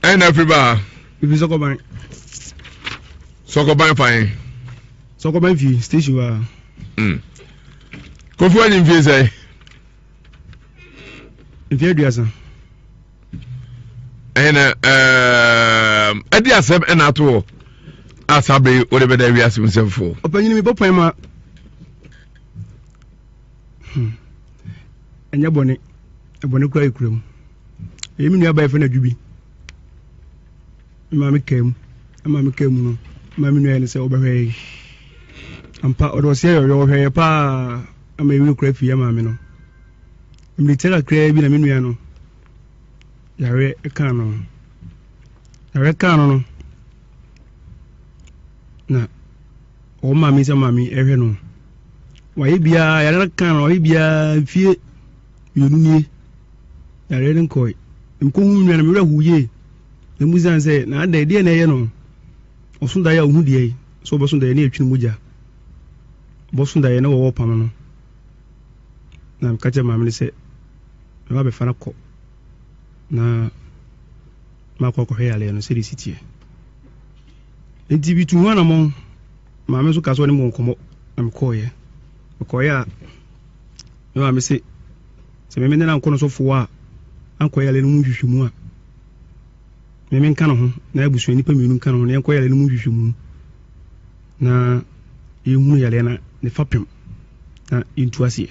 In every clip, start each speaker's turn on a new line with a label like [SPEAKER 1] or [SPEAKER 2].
[SPEAKER 1] ɛn na afiri baa. efi sɔkɔban.
[SPEAKER 2] sɔkɔban
[SPEAKER 1] fan. sɔkɔban
[SPEAKER 2] fi station wa. Mm.
[SPEAKER 1] kofi wa ni nfi sɛ.
[SPEAKER 2] nfi aduasa. ɛn na
[SPEAKER 1] ɛɛm ɛdi asɛm ɛna ato hɔ asabe o de bɛ da wiase mu sɛnfo. ɔpanyin mi bɔ pɔn ma. Hmm.
[SPEAKER 2] ɛnyɛ bɔne. ɛbɔne koraa yɛ kura mu ɛyɛ me nua baa yɛfrɛ no adwo bi ma me kaa mu ma me kaa mu no ma me nua yɛ no sɛ ɔbɛhwɛ yɛ ampa ɔde ɔseɛ yɛ ɔyɛ ɔhwɛ yɛ paa ama ɛwuro kora fie ama me no mmiri tɛ kakraa bi na me nua no yare kaa no yare kaa no no na wɔn maame nsɛm maame ɛhwɛ no wayɛ biara yare no kan no wayɛ biara mfie mmienu nie yare no nkɔe mekɔhu nwa no mewerɛ ho yie na mu sane sɛ na adɛ deɛ na ɛyɛ no ɔso daeɛ a ɔhu deɛ yi sɛ ɔbɛso daeɛ ne ɛtwene mogya ɔbɛso daeɛ na wɔwɔ pam no na meka kyɛ maame no sɛ mɛba bɛfa no kɔ na makɔ akɔhwɛ yaleɛ no sɛde si teɛ Enti mituu ho anammɔn. Maame nso kaa sɛ ɔne me wɔ nkɔmmɔ, na mekɔeɛ. Mekɔeɛ a, me maame se, sɛ me ne no ankɔ no sɔfo hɔ a, ankɔ yale no mu nhwehwɛmu a, me menka ne ho, na abusua nnipa mmienu nka ne ho, na yɛnkɔ yale no mu nhwehwɛmu, na yɛnhunu yaleɛ no ne fapem, na yɛntu aseɛ.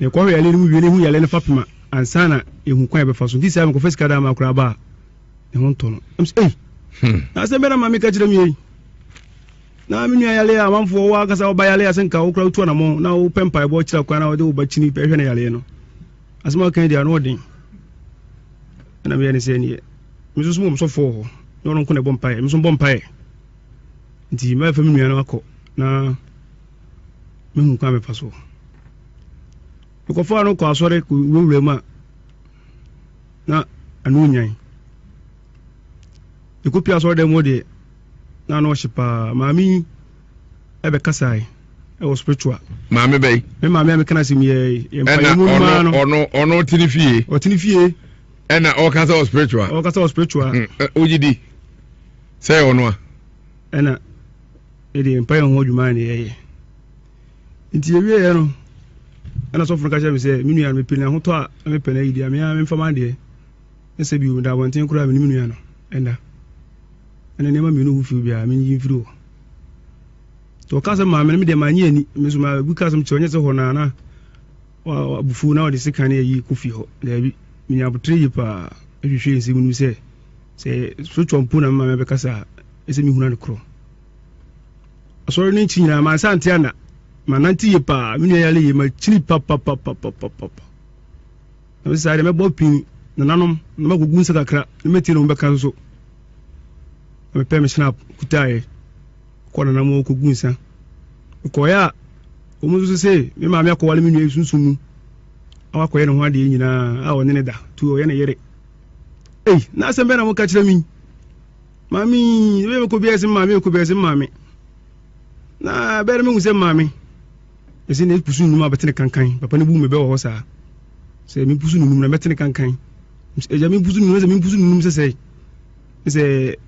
[SPEAKER 2] Ne kɔn yare no mu wie no hu yare no fapem a ansa na ehu kwan a ɛbɛfa so nti saa mekɔfa sika daa ma koraa ba a ne ho ntɔ no ɛm sɛ ei hmm. na asɛm bɛ na maame ka kyerɛ me yei na me nua yare a amanfoɔ wɔ akasa wɔba yare a sɛ nka wokora wotu anamɔ na wopɛ mpaebɔ kyerɛ kwan na wode woba kyini bɛhwɛ no yareɛ no asɛm a wokan di ano ɔden ɛna meyɛ ne sɛ neɛ meso so mom sɔfoɔ hɔ na ɔno nko na ɛbɔ mpaeɛ meso bɔ mpaeɛ nti mɛfa me nua no akɔ na mehu kwan mefa so. Mekɔfaa no kɔ asɔre kɔwurawura mu a na ano nyan. Mekɔpie asɔre dɛm hɔ deɛ na ano ɔhye paa. Maame yi ɛbɛkasae ɛwɔ spiritual. Maame bɛyi. Me
[SPEAKER 1] maame a meka no asɛm
[SPEAKER 2] yɛ yɛ mpa yɛ mu maa no. Ɔno
[SPEAKER 1] ɔno ɔtene fie. Ɔtene fie.
[SPEAKER 2] Ɛna ɔkasa
[SPEAKER 1] wɔ spiritual. Ɔkasa wɔ spiritual. Wogye di sɛ ɔno a. ɛna
[SPEAKER 2] yɛde yɛn mpaeɛ ho adwuma na yɛyɛ nti yɛwieɛ no ɛna sɔfo no ka kyerɛ me sɛ me nua no mepɛ ahotɔ a na mepɛ no ayi deɛ mea memfa ma adeɛ ne sɛ bio meda abɔnten koraa me ne me nua no ɛnda ɛna nneɛma mmienu ho firi biara menyi mfiri hɔ nti ɔka sɛ maame no medeɛ manye ani me so magu ka sɛm kyerɛ ɔnyɛ sɛ hɔ no ana abufuo na ɔde sekan ne ayi kɔ fie hɔ daabi menya abotere yie paa ahwehwɛ nsɛm no mu sɛ Sɛ sotɔ mpo na mema me bɛkasa a, ɛsɛ mehuna no korɔ. Asɔre no nkyi nyinaa mansa ante ana, manante yie paa, me nua yare yie, makyini papapapapapapa. Na mese saa deɛ mɛbɔ pin nananom na makɔgu nsa kakra na mɛtie na wɔbɛka nso. Na mepɛ me snap kutaeɛ kɔ nananom hɔ kɔgu nsa. Mekɔeɛ a wɔn nso se me maame akɔwale me nua yi sunsum mu a wakɔyɛ ne ho adeɛ nyinaa a ɔne ne da nti ɔyɛ ne yere. ei na asɛm bɛɛ na moka kyerɛ me maame bɛyɛ mekɔ biaa sɛ maame ɛkɔ biaa sɛ maame na bɛyɛ mehu sɛ maame ɛsɛ na ɛpusu nnum a bɛtene kankan papa no bu me bɛwɔ hɔ saa sɛ mepusu nunum na mɛtene kankan ɛgya mepusu nunum sɛ mepusu nunum sɛ sɛ sɛ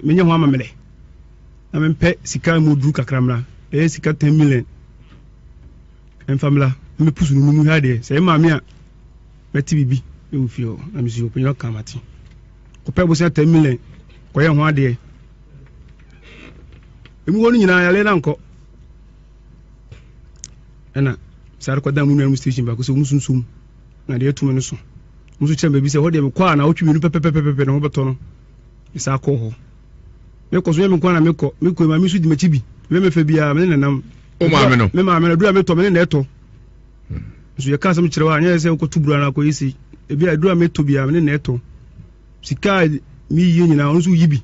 [SPEAKER 2] menyɛ ho amammerɛ na mempɛ sika mu duru kakra mmra ɛyɛ sika 10 million ɛmfa mmra mepusu nunum hwɛ adeɛ sɛ ɛma me a Mɛte biribi wɔ fie hɔ na mesuro panyin ɔka mate. Kɔpɛ bosia ten million kɔyɛ ho adeɛ. Emu hɔ no nyinaa yare na nkɔ. Ɛna saa rekɔda mu nuanom station baako sɛ wɔn sunsun na deɛ ɛtumi no so. Wɔn nso kyerɛ baabi sɛ hɔ deɛ mekɔ a na wotwi mmienu pɛpɛpɛpɛpɛ na wɔbɛtɔ no. Mesaa kɔɔ hɔ. Mekɔ so yɛ me nkwa na mekɔ. Mekɔ maame nso di m'akyi bi. Mɛmɛfɛ biara me ne nanam. O maame no. Me maame no dura metɔ me ne na ɛtɔ. nso yɛka asɛm kyerɛ wo a nyɛ sɛ wokɔto bura no akɔyɛ sei ebi a aduru a metɔ biara mene na ɛtɔ sika a meyie nyinaa ɔno nso woyi bi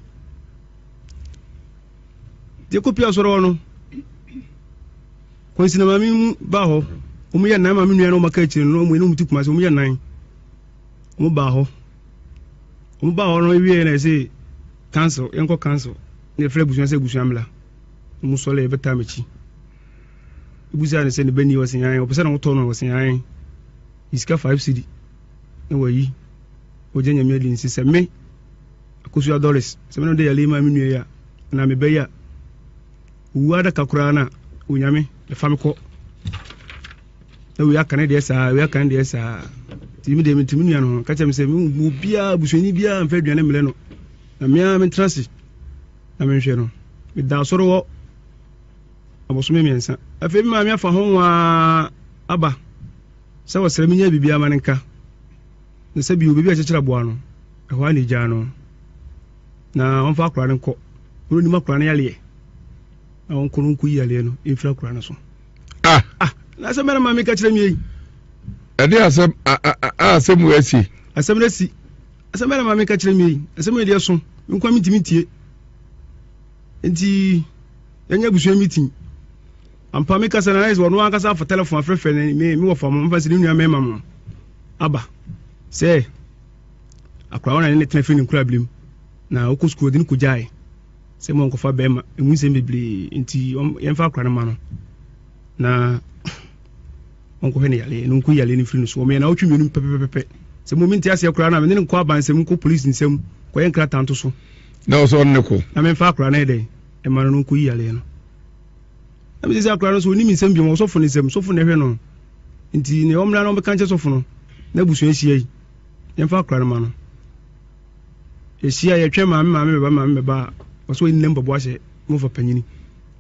[SPEAKER 2] deɛ kɔpie asɔre hɔ no kwansi na maame mu baa hɔ wɔn yɛ nan maame nua na wɔn aka akyire no wɔn yɛ ti kuma se wɔn yɛ nan wɔn baa hɔ wɔn baa hɔ no ewie na ɛsɛ council yɛn kɔ council na yɛfrɛ abusua sɛ abusua mla wɔn sɔre yɛbɛtaa m'akyi. Wobisaa no sɛ ne ba ni ɔse ae, ɔpɛ sɛ na wotɔ no a ɔse ae. Yi sika five cedi na wayi. Ogye Nyame adi nse sɛ me, Akosua Doris, sɛ me na mede yare yi maa me nua yi a, anaa me ba yi a, owu ara da ka koraa no a, Onyame, fa me kɔ. Na wei aka ne deɛ saa, wei aka ne deɛ saa. Nti me deɛ mente me nua no ho, ka kyerɛ me sɛ me obiara, busuani biara mfa aduane mmrɛ no. Na me ara mentena ase na menhwɛ no. Meda asɔre hɔ abosome mmiɛnsa. Afei me maame afa ho nwaa aba sɛ ɔsrɛ menyɛ biribiara ma no nka ne sɛ bio baabi a ɛkyekyere aboa no, ɛhɔ ara na egyaa no na ɔmfa akwadaa no nkɔ. Ɔno nim akwadaa no yareɛ na ɔnkɔ no nkɔyi yareɛ no mfiri akwadaa no so. Ah! Ah! Na asɛm bɛn na maame ka kyerɛ me yi? Ɛde
[SPEAKER 1] asɛm a asɛm wɔ asi. Asɛm no asi.
[SPEAKER 2] Asɛm bɛn na maame ka kyerɛ me yi? Asɛm no deɛ so. Nkwa mentumi ntie. Nti Yɛnyɛ abusua meeting. Ampa me kasa na ayɛ sɛ ɔno ankasa afa telephone afrɛfrɛ ne me me wɔfa mo mfa sɛ ne nua mɛma mo aba sɛ akora wɔn na ne ne tena fɛ ne nkura bilim na ɔkɔ sukuu ɔde ne kɔgyae sɛ mo nkɔfa bɛrima ɛmu nsɛm bebree nti yɛmfa akora no ma no na ɔnkɔhwɛ ne yale no nkɔ yale no firi no so ɔmeyɛ na wotwe mmienu pɛpɛpɛpɛ sɛ mo mente aseɛ koraa na mene ne nkɔ abansɛm nkɔ polisi nsɛm kɔyɛ nkrataa nto so na ɔsɛ ɔne ne kɔ
[SPEAKER 1] na memfa akora no yɛ dɛn
[SPEAKER 2] ɛma no no nkɔyi yareɛ no na mese sɛ akora no so ɔnim nsɛm biom ɔsɔfo no nsɛm sɔfo no ɛhwɛ no nti ne ɔmmra na ɔbɛka nkyɛ sɔfo no na abusua ahyia yi yɛmfa akora no ma no yɛhyia yɛtwɛn maame maame bɛba maame bɛba a ɔsɛ ɔyi nam bɔbɔ ahyɛ mofa panyini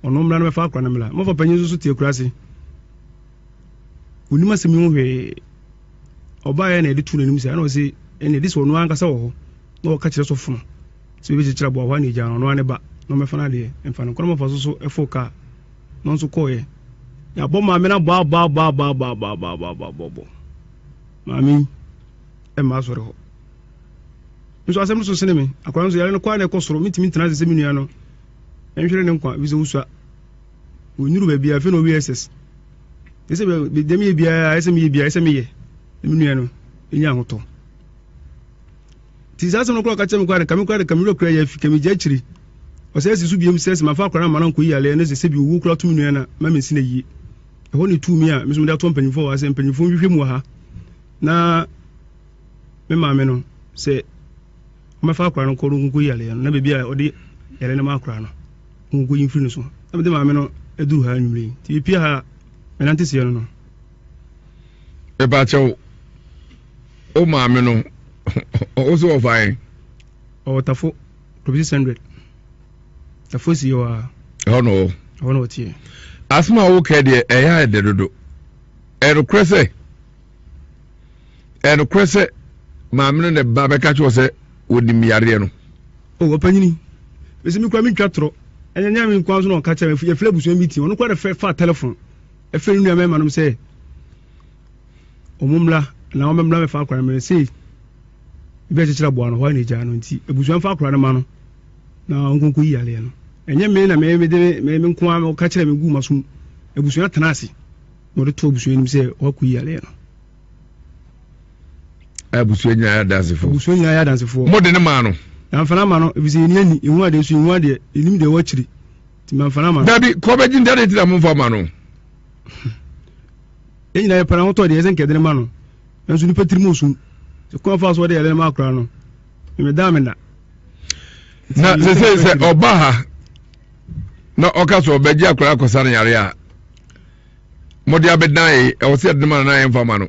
[SPEAKER 2] ɔno mmra no bɛfa akora no mmra mofa panyin nso so te akura ase onim asɛm yi ho hwee ɔbaeɛ na yɛde to n'anim sɛ ɛna ɔse ɛne de sɛ ɔno ankasa wɔ hɔ na ɔka kyerɛ sɔfo no Sɛ obi kyekyere aboa hɔ a na egyaa no, ɔno ara ne ba na ɔmmɛfa n'adeɛ mfa no nkɔ. Na ɔma fa so so foro kaa no nso kɔeɛ. Yɛabɔ maame no abɔabɔabɔabɔabɔabɔabɔabɔabɔ. Maame yi mma asɔre hɔ. Me nso asɛm no so sene me. Akwadaa no nso yare no kɔ ara na ɛkɔ soro. Mentumi ntena ase sɛ me nua no nhwere ne nkwa efisɛ wosua. Wɔnnuru baabi a afei na ɔwie SS. Ɛyɛ sɛ bɛ- bɛ- deɛ meyɛ biara ɛyɛ sɛ meyɛ biara ɛyɛ sɛ meyɛ na me nua no ɛnya ahotɔ. Nti saa asɛm no koraa ɔka kyerɛ me koraa de kame koraa de kame werɛ koraa yɛ afi kame gya akyiri ɔsɛ asi so biom sɛ sɛ mafa akwadaa no ma no ankɔ yi yaleɛ no sɛ sɛbi owuo koraa tumi nua na ma mensi no ayie ɛhɔ na etuu me a me nso mede ato mpanyinfoɔ wɔ ha sɛ mpanyinfoɔ nhwehwɛ mu wɔ ha na me maame no sɛ ɔmɛfa akwadaa no kɔ no nkɔ yi yaleɛ no na baabi a ɔde yaleɛ no ma akwadaa no nkɔ yi mfiri no so na mede maame no aduru ha anwummerɛ yi nti mepie ha menante seɛ no no
[SPEAKER 1] ɛbɛakyɛw o maame no ɔwɔ so ɔfa yɛn. ɔwɔ tafo
[SPEAKER 2] kɔbi six hundred tafo si hɔ a. ɛhɔ na ɔwɔ. ɛhɔ na ɔteɛ. asoma a wokɛ
[SPEAKER 1] deɛ ɛyɛ ayɛ dɛ dodo ɛnokorɛ sɛ ɛnokorɛ sɛ maame no na ɛba bɛka kyerɛ sɛ wɔnim yareɛ no. o oh, ɔpanyini
[SPEAKER 2] bɛsi mi kura mi ntwa torɔ ɛnyɛ nyɛ mi nkwa so na ɔka kyerɛ mi yɛfrɛ abusua mi ti ɔno kura de fɛ fa telefon. Ɛfrɛ ne nua mmarima nom sɛ wɔn mmra na wɔn mmra mɛfa akora no mmerɛ sei ebi akyekyere aboa no hɔ na egyaa no nti abusua mfa akora no ma no na wɔn nkonko yi aleɛ no ɛnyɛ me na mɛ mede mɛ me nko ara ɔka kyerɛ me gu ma so abusua tena ase na ɔde to abusua anim sɛ wɔakɔ yi aleɛ no.
[SPEAKER 1] abusua nyinaa yɛ adansefoɔ abusua nyinaa yɛ adansefoɔ mo de ne maa no. yɛn afana ma no efisɛ
[SPEAKER 2] yɛn ni ani ehu adeɛ so ehu adeɛ enim deɛ ɛwɔ akyiri. ti ma nfa n'ama. dabi kɔ bɛ gyi ntade ti
[SPEAKER 1] na mo nfa ma no.
[SPEAKER 2] yɛn nyinaa yɛ pɛrɛn ahotɔ deɛ ɛsɛ nkɛdene ma no nanso nipa tirim osum sɛ kwan fa so ɔde yɛdene ma akora no meme daa me na. na sɛ sɛ
[SPEAKER 1] sɛ ɔba ha na ɔka sɛ ɔbɛgye akora akɔsa no yare a mode abɛdan ye ɛwɔ sɛ yɛdene ma no na yɛmfa ma no.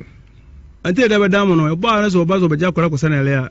[SPEAKER 1] ɛnti ɛda
[SPEAKER 2] bɛdan mo no ɛbɔ a na sɛ ɔba sɛ ɔbɛgye akora akɔsa no yare a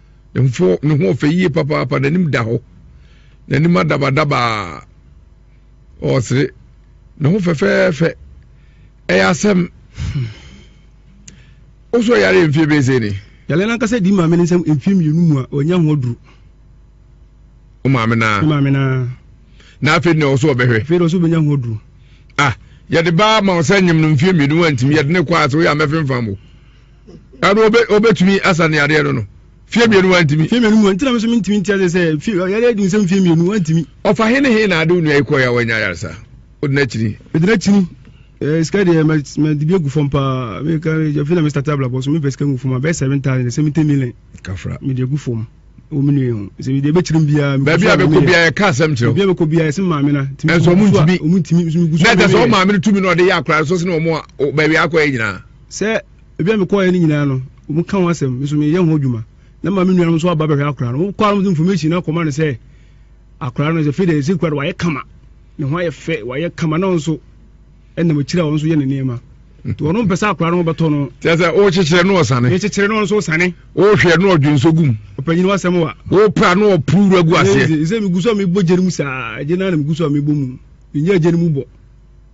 [SPEAKER 1] Mfo, ne ho ɔfɛ yie papaapa, n'anim da hɔ, n'anim adabadabaa, ɔresere, ne ho fɛfɛɛfɛ, ɛyɛ asɛm. Wosɔ yare mfie bɛyɛ sɛ ni? Yare no ankasa di maame
[SPEAKER 2] no nsam mfie mmienu mu a ɔnya ho aduru.
[SPEAKER 1] O maame naa? Ne maame naa. Na afei na ɔso ɔbɛhwɛ? Afei na ɔso ɔbɛnya ho aduru.
[SPEAKER 2] Ah,
[SPEAKER 1] yɛde baa ma ɔsɛ nyem no mfie mmienu wantumi, yɛde ne kɔ ase, woyɛ a mɛfemfam wo. ɛno obe obetumi asa ne adeɛ no no fie mmienu wantumi. fie mmienu mu a ntina mi nso mi ntumi nti
[SPEAKER 2] ase sɛ fie yɛde adi nsɛm fie mmienu wantumi. ɔfa he ne he na ade
[SPEAKER 1] onua yi kɔɛ a wanya ayaresa odi n'akyini. edi n'akyini ɛɛ
[SPEAKER 2] sika deɛ mɛ mɛ dibi egu fam paa mi ka jafi na mi start abalabɔ so mi pɛ sika ngu fam a bɛyɛ seven thousand ɛsɛ mi ten million. kafra mi de egu
[SPEAKER 1] fam
[SPEAKER 2] wɔn mi nua ho sɛ mi de ebe kyerɛ mu biara. baabi a bɛkɔ biara yɛ
[SPEAKER 1] kaa sɛm kyerɛw. baabi a bɛkɔ biara yɛ sɛ maame
[SPEAKER 2] na. ɛnso ɔmo ntumi ɔmo
[SPEAKER 1] ntumi nso mi gu so. na
[SPEAKER 2] ɛtɛ sɛ ɔmo maame no tumi na
[SPEAKER 1] ɔde yɛ akora nso sɛ na ɔmo baabi akɔ yɛ nyinaa. Sɛ baabi a
[SPEAKER 2] mekɔeɛ no nyinaa no, wɔka ho asɛm, me nso meyɛ ho adwuma. Na ma me nuanom nso aba bɛhwɛ akwadaa no. Wɔkɔ ara wɔde information no akɔma no sɛ akwadaa no sɛ afei deɛ ɛsɛ kura no wayɛ kama. Ne ho ayɛ fɛ, wayɛ kama na nso ɛnam akyiri a wɔn nso yɛ ne nneɛma. Nti wɔn mpɛ sɛ akwadaa no bɛtɔ no. Kyerɛ sɛ wɔkyekyere no
[SPEAKER 1] ɔsane. Wɔkyekyere no nso ɔsane.
[SPEAKER 2] Wɔhwɛ no ɔdwe
[SPEAKER 1] nso gum. Ɔpanyin wa asɛm wa.
[SPEAKER 2] Wɔpra no ɔpuru
[SPEAKER 1] wura gu aseɛ. Sɛ megu so a mebɔ gye no
[SPEAKER 2] mu saa, gye no ara na megu so a mebɔ mu. Menyɛ gye no mu bɔ.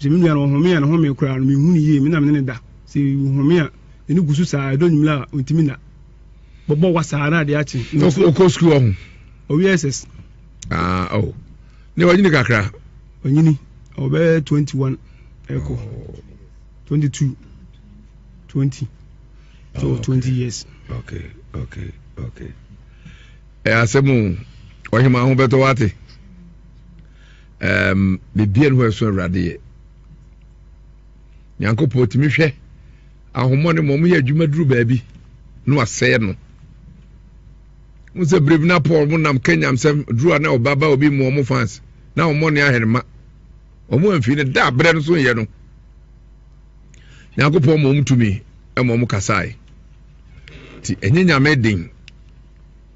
[SPEAKER 2] Sɛ me nua no ɔhome a ne home koraa no menhu no yie, me na me ne no da. Sɛ ɔhome a, n'ani gu so saa, ɛdɔ nwummerɛ a ɔntumi nna. Bɔbɔ wa saa na adeɛ akye. Ɔkɔ sukuu ɔho?
[SPEAKER 1] Ɔwie SS.
[SPEAKER 2] Ah, oh.
[SPEAKER 1] Ne wanyini kakra? Ɔnyini,
[SPEAKER 2] ɔbɛyɛ 21 ɛkɔ. Oh. 22, 20. So oh, 20 okay. years. Okay, okay,
[SPEAKER 1] okay. Ẹ asẹ́mu ọ̀hìnmá ahun bẹ́tọ̀ wá ti. Um, bebia ne hɔ ɛso awurade yɛ. Nyankopɔn tumi hwɛ ahomɔ ne mɔm yɛ adwuma duru baabi na wasɛe no. Mo sɛ bere bi na Paul mo nam kanyam sɛm duru a na ɔbaba obi mu ɔmo fans na ɔmo ne ahɛrɛma. Ɔmo amfi ne da abere no so yɛ no. Nyankopɔn ma ɔmo tumi ɛma ɔmo kasae. Ti ɛnyɛ nyame den.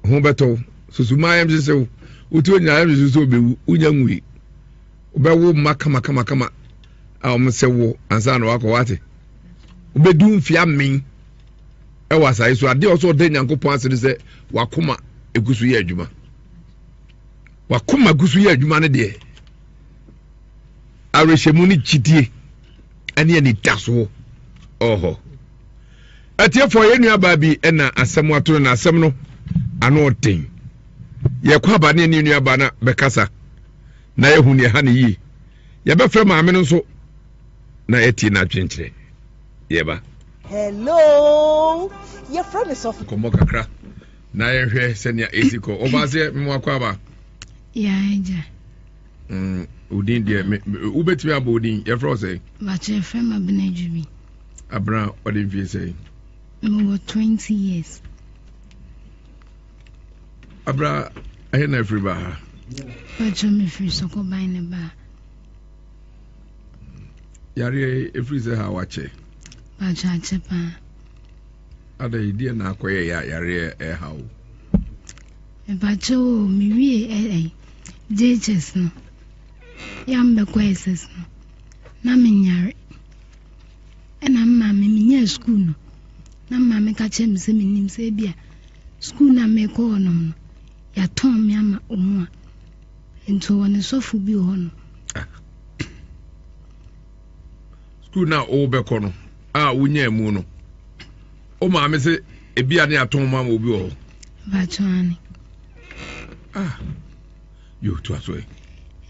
[SPEAKER 1] ho bɛtɔ wo susu ma ayamhyehye wo wote onyina ayamhyehye sɛ ɔbɛwu wonya nwui wobɛwo mma kamakamakama a wɔn sɛ wo ansa na wakɔ wate wobɛdu mfeɛ amen ɛwɔ asae so adeɛ ɔsɛ ɔda nyankopɔn ase no sɛ wakoma ɛgu so yɛ adwuma wakoma gu so yɛ adwuma no deɛ awerɛhyɛmu ne gyidie ɛne anidasoɔ ɔhɔ Atiefoɔ, yɛn nuabaa bi na asɛm ato no na asɛm no ano ɔden. Yɛkɔ aba ne ne nuabaa na bɛkasa na yɛhu nea ɛha no yie. Yɛbɛfrɛ maame no nso na yɛatie n'adwenkyerɛ. Yɛba. Hello,
[SPEAKER 3] yɛfrɛ me sɔfo. Nkɔmmɔ kakra
[SPEAKER 1] na yɛnhwɛ sɛnea ɛsi kɔ. Ɔbaaseɛ memo akɔ aba. Yɛagya. Odin mm, deɛ wobɛtumi abɔ odin yɛfrɛ wo sɛ. Bakyɛ yɛfrɛ ma
[SPEAKER 4] bena adwumi. Abena
[SPEAKER 1] ɔde mfie sɛn? Mewɔ
[SPEAKER 4] twenty years.
[SPEAKER 1] Abena ɛhe na afiri ba ha? Bàtchọ
[SPEAKER 4] mefiri Sokoban ne ba.
[SPEAKER 1] Yareɛ efiri sɛ ha wakyɛ. Bàtchọ akyɛ
[SPEAKER 4] paa.
[SPEAKER 1] Ada yi deɛ na akɔyɛ yɛ a yareɛ ɛha o.
[SPEAKER 4] Bàtchọ o mewie ɛɛ JHS no yam bɛkɔ SS no na menyare. Ɛna me maame menyaa sukuu no na me maame ka kyerɛ me sɛ menim sɛ bi a sukuu no a mekɔ hɔ nom no yɛatɔn me ama ɔmu a nti wɔ ne sɔfo bi wɔ hɔ no
[SPEAKER 1] sukuu no a wobɛkɔ no a wonyaa mu no wo maame sɛ ebi a ne yɛatɔn mu ama obi wɔ hɔ bakyɛane
[SPEAKER 4] ah
[SPEAKER 1] yɛtoa so ɛ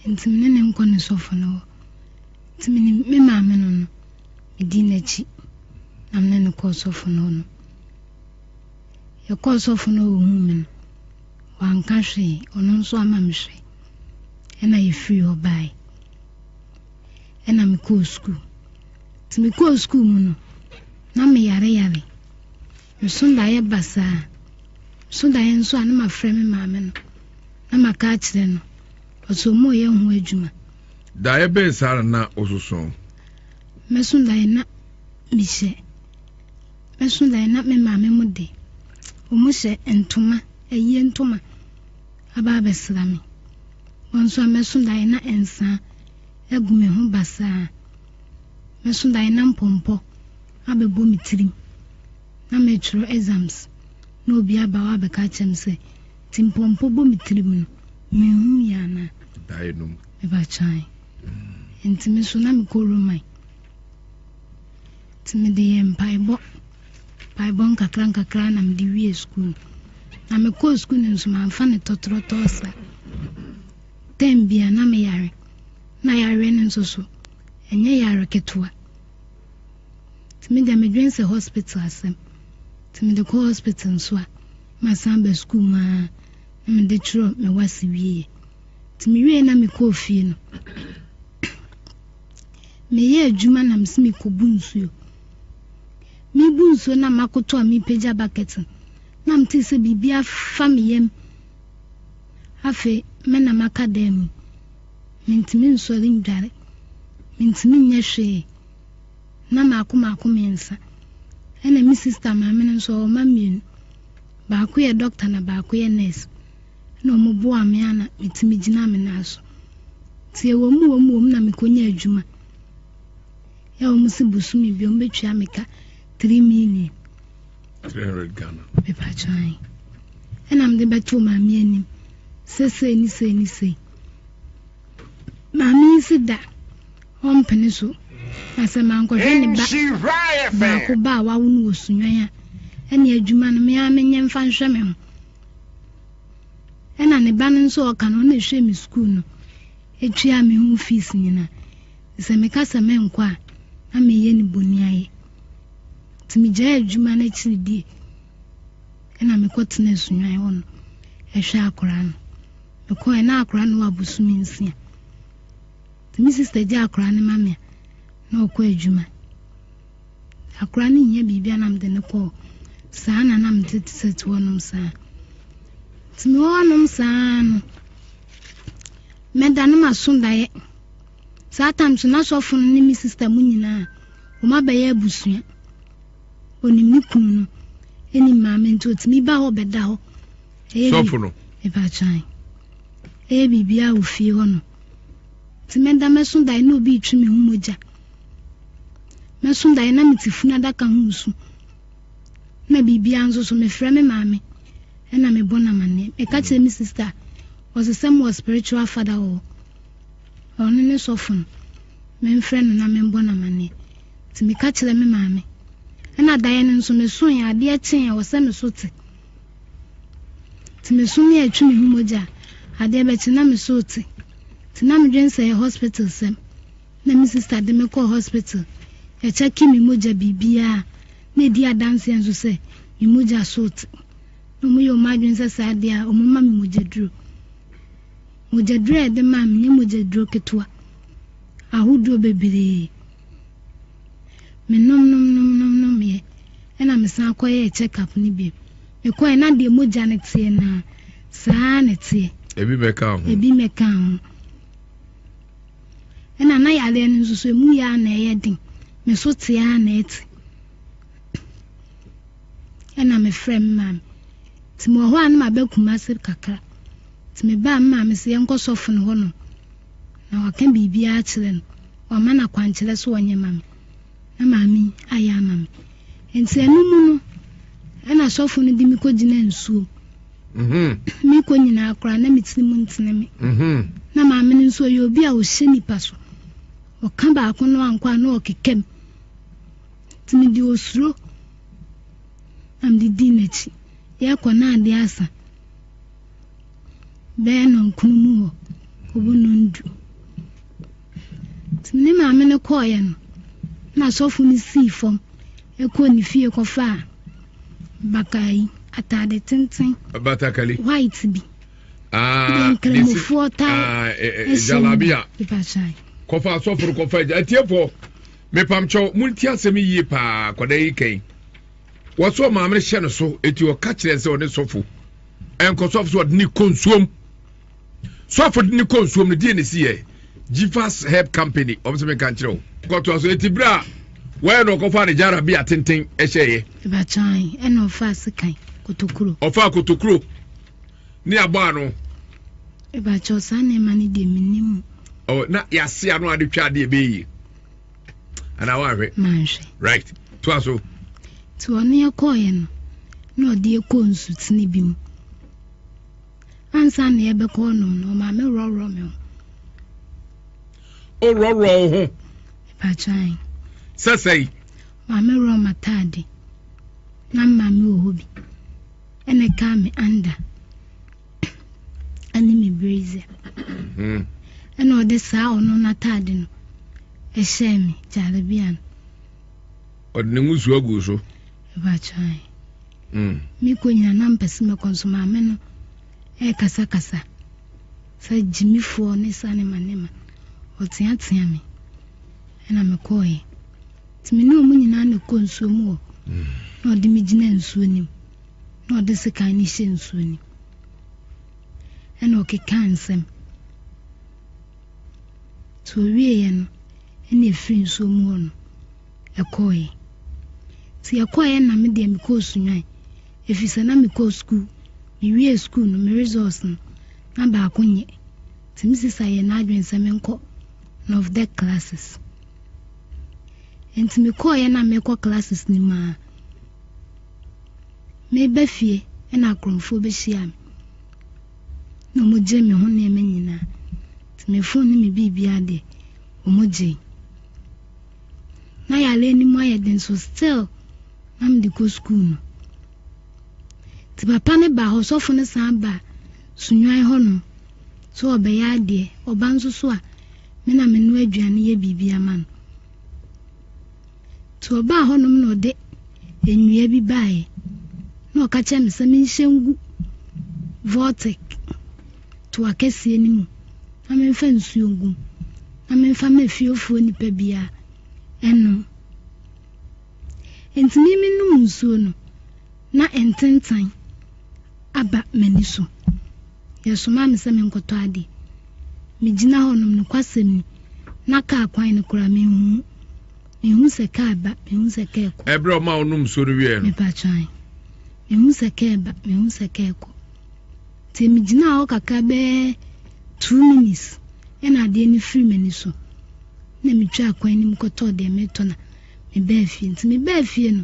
[SPEAKER 1] nti mene ne
[SPEAKER 4] nkɔ ne sɔfo no hɔ Nti menim me maame no no, medii n'akyi na me ne no kɔɔ sɔfo no hɔ no. Yɛkɔɔ sɔfo no hɔ ohuu me no, wanka hwee, ɔno nso ama me hwɛ. Ɛna yɛfirii hɔ bae. Ɛna mekɔɔ sukuu. Nti mekɔɔ sukuu mu no, na meyareyare. Meso daeɛ basaa a. Meso daeɛ nso a na mafrɛ me maame no na maka akyerɛ no. Ɔso ɔmo yɛ ho adwuma. Daeɛ bɛn
[SPEAKER 1] saa na na wososo? Mɛso
[SPEAKER 4] daeɛ na mehyɛ. Mɛso daeɛ na me maame mo de ɔmo hyɛ ntoma, ayie ntoma aba abɛsra me. Wɔn nso a mɛso daeɛ na nsaa agu me ho basaa. Mɛso daeɛ na mpɔmpɔ. abɛbɔ me tirim na merekyerɛ exams na obi aba hɔ abɛka akyerɛ me sɛ timpɔmpɔ bɔ me tirim no menhu yie anaa? Daenom.
[SPEAKER 1] Ɛba
[SPEAKER 4] kyae. Nti me nso na mekɔ Roman. Nti mede yɛ mpaebɔ. Mpaebɔ nkakra nkakra na mede wie sukuu no. Na mekɔɔ sukuu no nso mamfa no tɔtorɔtɔɔ sa. Tɛm bia na meyare. Na yareɛ no nso so ɛnyɛ yare ketewa. Nti me deɛ me dwen sɛ hospital asɛm. Nti me de kɔ hospital nso a ma san aba school mu aa na me de twerɛ me wase wie yɛ. Nti me wieɛ na me kɔɔ fie no me yɛ adwuma na me se me kɔ bu nsuo. Me bu nsuo na ma koto a me pagya bucket no na me te sɛ biribi afa me yam. Afei me na maka dan mu. Mintumi nsɔre ndware. Mintumi nnyɛ hwee. Nna maako maako miɛnsa. Nna me sista maame no so ɔwɔ mma mienu. Baako yɛ dɔkta na baako yɛ nurse. Nna wɔn boaa me a na mitumi gyina me nan so. Ntsi ewɔ mu wɔ mu wɔ mu na mekonyaa edwuma. Yɛ a wɔn se bosome bi wɔn betua me ka three million. Three hundred
[SPEAKER 1] Ghana. Mepatwa
[SPEAKER 4] ae. Nna mede bɛtoo maame anim sɛ sei ne sei ne sei. Maame yi se da ɔmpene so, na sɛ mankɔhwɛ ne ba baako ba a wawo no wɔ Sunyɔn a, ɛne adwuma no me ara menyɛ mfa nhwɛ me ho. Ɛna ne ba no nso ɔka no ɔna ɛhwɛ me sukuu no, ɛtua me ho fees nyina. Sɛ meka sɛ menkɔ a, na meyɛ ne bɔni ayɛ. Nti megyae adwuma no akyiri die, ɛna mekɔtena Sunyɔn hɔ no ɛhwɛ akwaraa no. Mekɔe na akora no wɔ abosome nsia. Nti me sister gye akora no ma me a na ɔkɔ adwuma. Akora no hia biribi a na mede no kɔ hɔ. Saa na na mete te sɛ te hɔnom saa. Nti me wɔ hɔnom saa no, mɛda no maso daeɛ. Saa tam so n'asɔfo no ne me sister mu nyinaa, wɔn abɛyɛ abusua. Onim ne kunu no, ɛnim maame nti otumi ba hɔ bɛda hɔ. sɔfo
[SPEAKER 1] no. Ɛbɛakyan.
[SPEAKER 4] Ɛyɛ biribiara wɔ fie hɔ no. Nti mɛda mɛso dae na obi retwe me ho mogya. Mɛso dae na mete funu adaka ho nsu. Na biribiara nso so mefrɛ me maame ɛna mebɔ no amanneɛ. Meka kyerɛ me sista a, ɔse sɛ mewɔ spiritual father wɔ hɔ. Ɔno ne sɔfo no. Memfrɛ no na membɔ no amanneɛ. Nti meka kyerɛ me maame. Ɛna daeɛ no nso mesoeɛ adeɛ kyee a ɔsɛ me so te. Nti me so me a ɛtwe me ho mogya a, adeɛ bɛkye na me so rete. Nti na medwene sɛ ɛyɛ hospital sɛm. Na me sister de me kɔɔ hospital. Yɛkyɛkee me mogya biribiara. Na ɛdi adanseɛ nso sɛ me mogya so rete. Na wɔyɛ wɔn adwene sɛ saa deɛ a, wɔmma me mogyaduro. Mogyaduro a ɛde maa me, ɛnyɛ mogyaduro ketewa. Ahodoɔ bebree. Menomnomnomnomnommeɛ ɛna mesan kɔyɛɛ check up no bio. Mekɔeɛ na deɛ mogya no teɛ no ara, saa ara na ɛteɛ. Ebi mmɛkaa ho. Ebi
[SPEAKER 1] mmɛkaa ho. Ɛna na yareɛ no nso so emu yɛ ara na ɛyɛ den. Me so te ara na ɛte. Ɛna mefrɛ me maame. Nti mewɔ hɔ a na mabɛ Kumase kakra. Nti mebaa me maame sɛ yɛnkɔ sɔfo no hɔnom. Na ɔka biribiara kyerɛ no. Ɔama no akwankyerɛ so ɔnyɛ ma me. Na maame yi ayɛ ama me. Nti ɛno mu no, ɛna sɔfo no de me kɔgyina nsuo. Mm-hmm. Mekɔ nyinaa koraa na me tiri mu ntene me. Mm-hmm. Na maame no nso ɔyɛ obi a ɔhyɛ nipa so. Ɔka baako no ankɔ a na ɔkeka mu. Nti mede osuro na mede dii n'akyi. Yɛkɔ na adeɛ asa. bɛyɛ nɔnkono mu hɔ kɔbɔ nɔndu. Nti ne maame no kɔɔeɛ no, na asɔfo no sii fam kɔɔ ne fie kɔfaa bakayi ataade tenten batakali white bi deɛ nkramofoɔ tae hyɛ mu bipakyae kɔfa asɔfo no kɔfa agya atiefoɔ mepamkyɛw monti asɛm yie paa kɔda yi kɛn wɔsɔ maame hyɛ no so eti ɔka kyerɛ sɛ ɔne sɔfo ɛnkɔ sɔfo so ɔde ne kɔ nsuom sɔfo de ne kɔ nsuom no deɛ ne si yɛ jifas herb company ɔmo sɛ meka nkyerɛ wo kɔtoa so eti berɛ a wɔyɛ na ɔkɔfa ne gyara bi atenten ɛhyɛeɛ ɛbakyan
[SPEAKER 4] ɛna ɔfa sekan kotokuro ɔfa kotokuro
[SPEAKER 1] ne
[SPEAKER 4] abɔ ano ɛbakyɛ
[SPEAKER 1] saa
[SPEAKER 4] nneɛma no deɛ menim ɔ
[SPEAKER 1] na yɛase ano ade twa adeɛ bɛyi anaa woanhwɛ manhwɛ right
[SPEAKER 4] toa so
[SPEAKER 1] nti ɔne
[SPEAKER 4] ɛkɔɔyɛ no na ɔde ɛkɔ nsutene bi mu ansa na ɛbɛkɔ nom no ɔma me worɔworɔ me ho worɔworɔ
[SPEAKER 1] wo ho patwan
[SPEAKER 4] sɛ sɛi
[SPEAKER 1] ma me
[SPEAKER 4] worɔ matade na mma me wɔ hɔ bi ɛna ɛkaa me anda ne me brazier. Mhm. Ɛna ɔde saa ɔno n'ataade no ɛhyɛɛ me gyalabia no.
[SPEAKER 1] Ɔde ne ngusoa guu so. Ɛbɛatwae.
[SPEAKER 4] Mm. Mekɔ nyina na mpɛ sɛ mɛkɔ nso maame no ɛrekasakasa sɛ gyimifoɔ ne sa ne ma ne ma ɔteatea me ɛna mekɔɔeɛ nti me ne ɔmo nyinaa na ɛkɔ nsuo mu hɔ mm. na ɔde me gyina nsuo nim na ɔde sekan no hyɛɛ nsuo no mu, ɛna ɔkekaa nsɛm. Nti ɔwieeɛ no, ɛna ɛfiri nsuo mu hɔ no, ɛkɔeɛ. Nti ɛkɔeɛ na me deɛ mekɔɔ Sunyani, ɛfiri sɛ na mekɔɔ sukuu, mewiee sukuu no, me results no, na baako nyɛ. Nti me sista yɛɛ n'adwene sɛ menkɔ NOVDEC classes. Nti mekɔeɛ na merekɔ classes no mu ara, Meba fie na akorɔmfoɔ bɛhyiaa me na wɔgyee me ho nneɛma nyinaa. Nti me phone ne me biribiara deɛ, wɔgyee. Na yareɛ no mu ayɛ den so still na mede kɔ sukuu no. Nti papa no baa hɔ, sɔfo no san baa Sunyani hɔnom sɛ ɔbɛyɛ adeɛ. Ɔba nso so a, me na menoa aduane yɛ biribi ama no. Nti ɔbaa hɔnom na ɔde nnua bi baeɛ, na ɔka kyerɛɛ me sɛ menhyɛ ngu Vortec toa kɛseɛ no mu na memfa nsuo ngu mu na memfa ma fiefoɔ nnipa biara nnom. Enti me menom nsuo no, na ntentan aba m'ani so. Yɛsomaa me sɛ menkɔtɔ adeɛ. Megyina hɔnom, nokwasɛm ni, na kaa kwan no koraa menhu. Mehu sɛ kaa ba, mehu sɛ kaa kɔ. Ɛberɛ a ɔmaa ɔnom nsuo no
[SPEAKER 1] wieɛ no. Mepatwan.
[SPEAKER 4] Mehu sɛ kaa ba, mehu sɛ kaa kɔ. Nti megyinaa hɔ kakra bɛyɛ two minutes ɛna adeɛ no firi m'ani so. Na metwaa kwan no mu kɔtɔɔ deɛ meretɔ na mebaa fie. Nti mebaa fie no,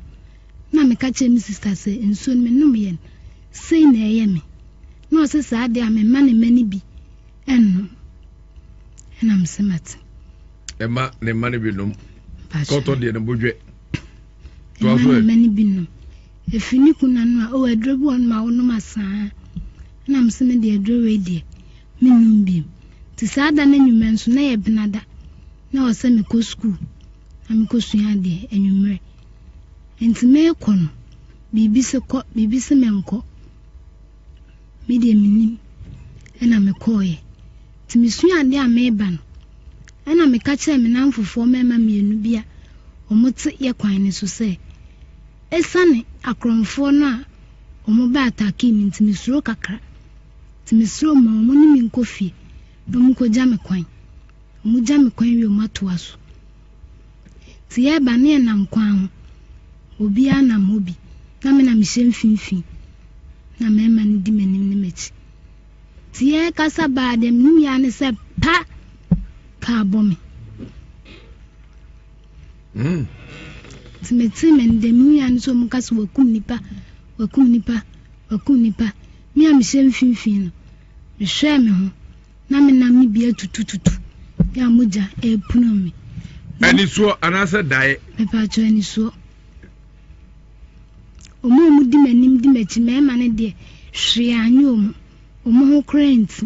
[SPEAKER 4] na meka kyerɛ me sista sɛ nsuo no menom yɛn. Sei na ɛyɛ me. Na ɔse saa deɛ a memma ne mma no bi nnom. Ɛna mese mate. Ɛma
[SPEAKER 1] ne mma no bi nom. Kɔtɔ deɛ no bodwɛ. Ɛma
[SPEAKER 4] ne mma no bi nom. Ɛfiri ne kunu ano a, o aduro bi wɔ nom a wonom asaa. Ɛna mese me deɛ aduro wei deɛ mennom biom. Nti saa da no anwummerɛ nso na yɛ benada. Na ɔsɛ mekɔ sukuu na mekɔ sua adeɛ anwummerɛ. Enti merekɔ no, biribi se kɔ, biribi se menkɔ. Me deɛ mennim. Ɛna mekɔeɛ. Nti mesua adeɛ a mereba no, ɛna meka kyerɛɛ me nnamfofoɔ mmarima mmienu bi a wɔte yɛ kwan no so sɛ, Esiane akorɔmfoɔ no a wɔba attackee me nti mesuro kakra. Nti mesrɛ wɔn ma wɔne me nkɔ fie na wɔnkɔgya me kwan. Wɔgya me kwan wie a wɔatoa so. Nti yɛɛba ne yɛnam kwan ho, obiaa nam hɔ bi, na me na mehyɛ mfinfini, na mmarima no di m'anim ne m'akyi. Nti yɛɛkasa baa deɛ mehuui ara ne sɛ pa! Kaa bɔ me. Mm. Nti metee me no deɛ mehuui ara ne sɛ ɔmo ka sɛ wakum nipa, wakum nipa, wakum nipa. Me a mehyɛ mfinfini no, mehwɛɛ me ho. na me nam no bi atutututu bi a mogya ɛrepuno me. Anisuo
[SPEAKER 1] anaasɛ dae? Mepatwɔ
[SPEAKER 4] anisuo. Wɔn a wɔdi m'anim di m'akyi mmarima no deɛ hwee anyɛ wɔn, wɔn ho koraa nti.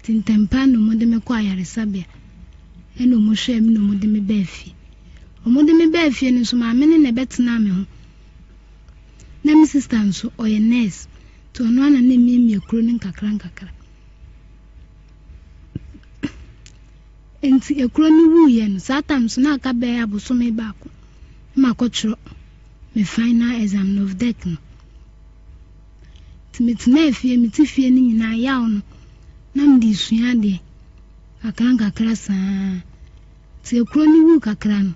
[SPEAKER 4] Nti ntɛmpa na wɔde me kɔ ayaresabea ɛna wɔhwɛɛ me na wɔde me baa fie. Wɔde me baa fie no nso maame no na ɛbɛtenaa me ho. Na me sista nso, ɔyɛ nurse, nti ɔno ara na na emiamia kuro no nkakrankakra. Nti ekuro no wuiɛ no, saa time so na aka bɛyɛ abosome baako na makɔtwerɛ me final exam no, NOVDEC no. Nti metenaa fie, mete fie no nyinaa yaw no, na mede sua adeɛ nkakrankakra saa. Tsia kor no wuu kakra no,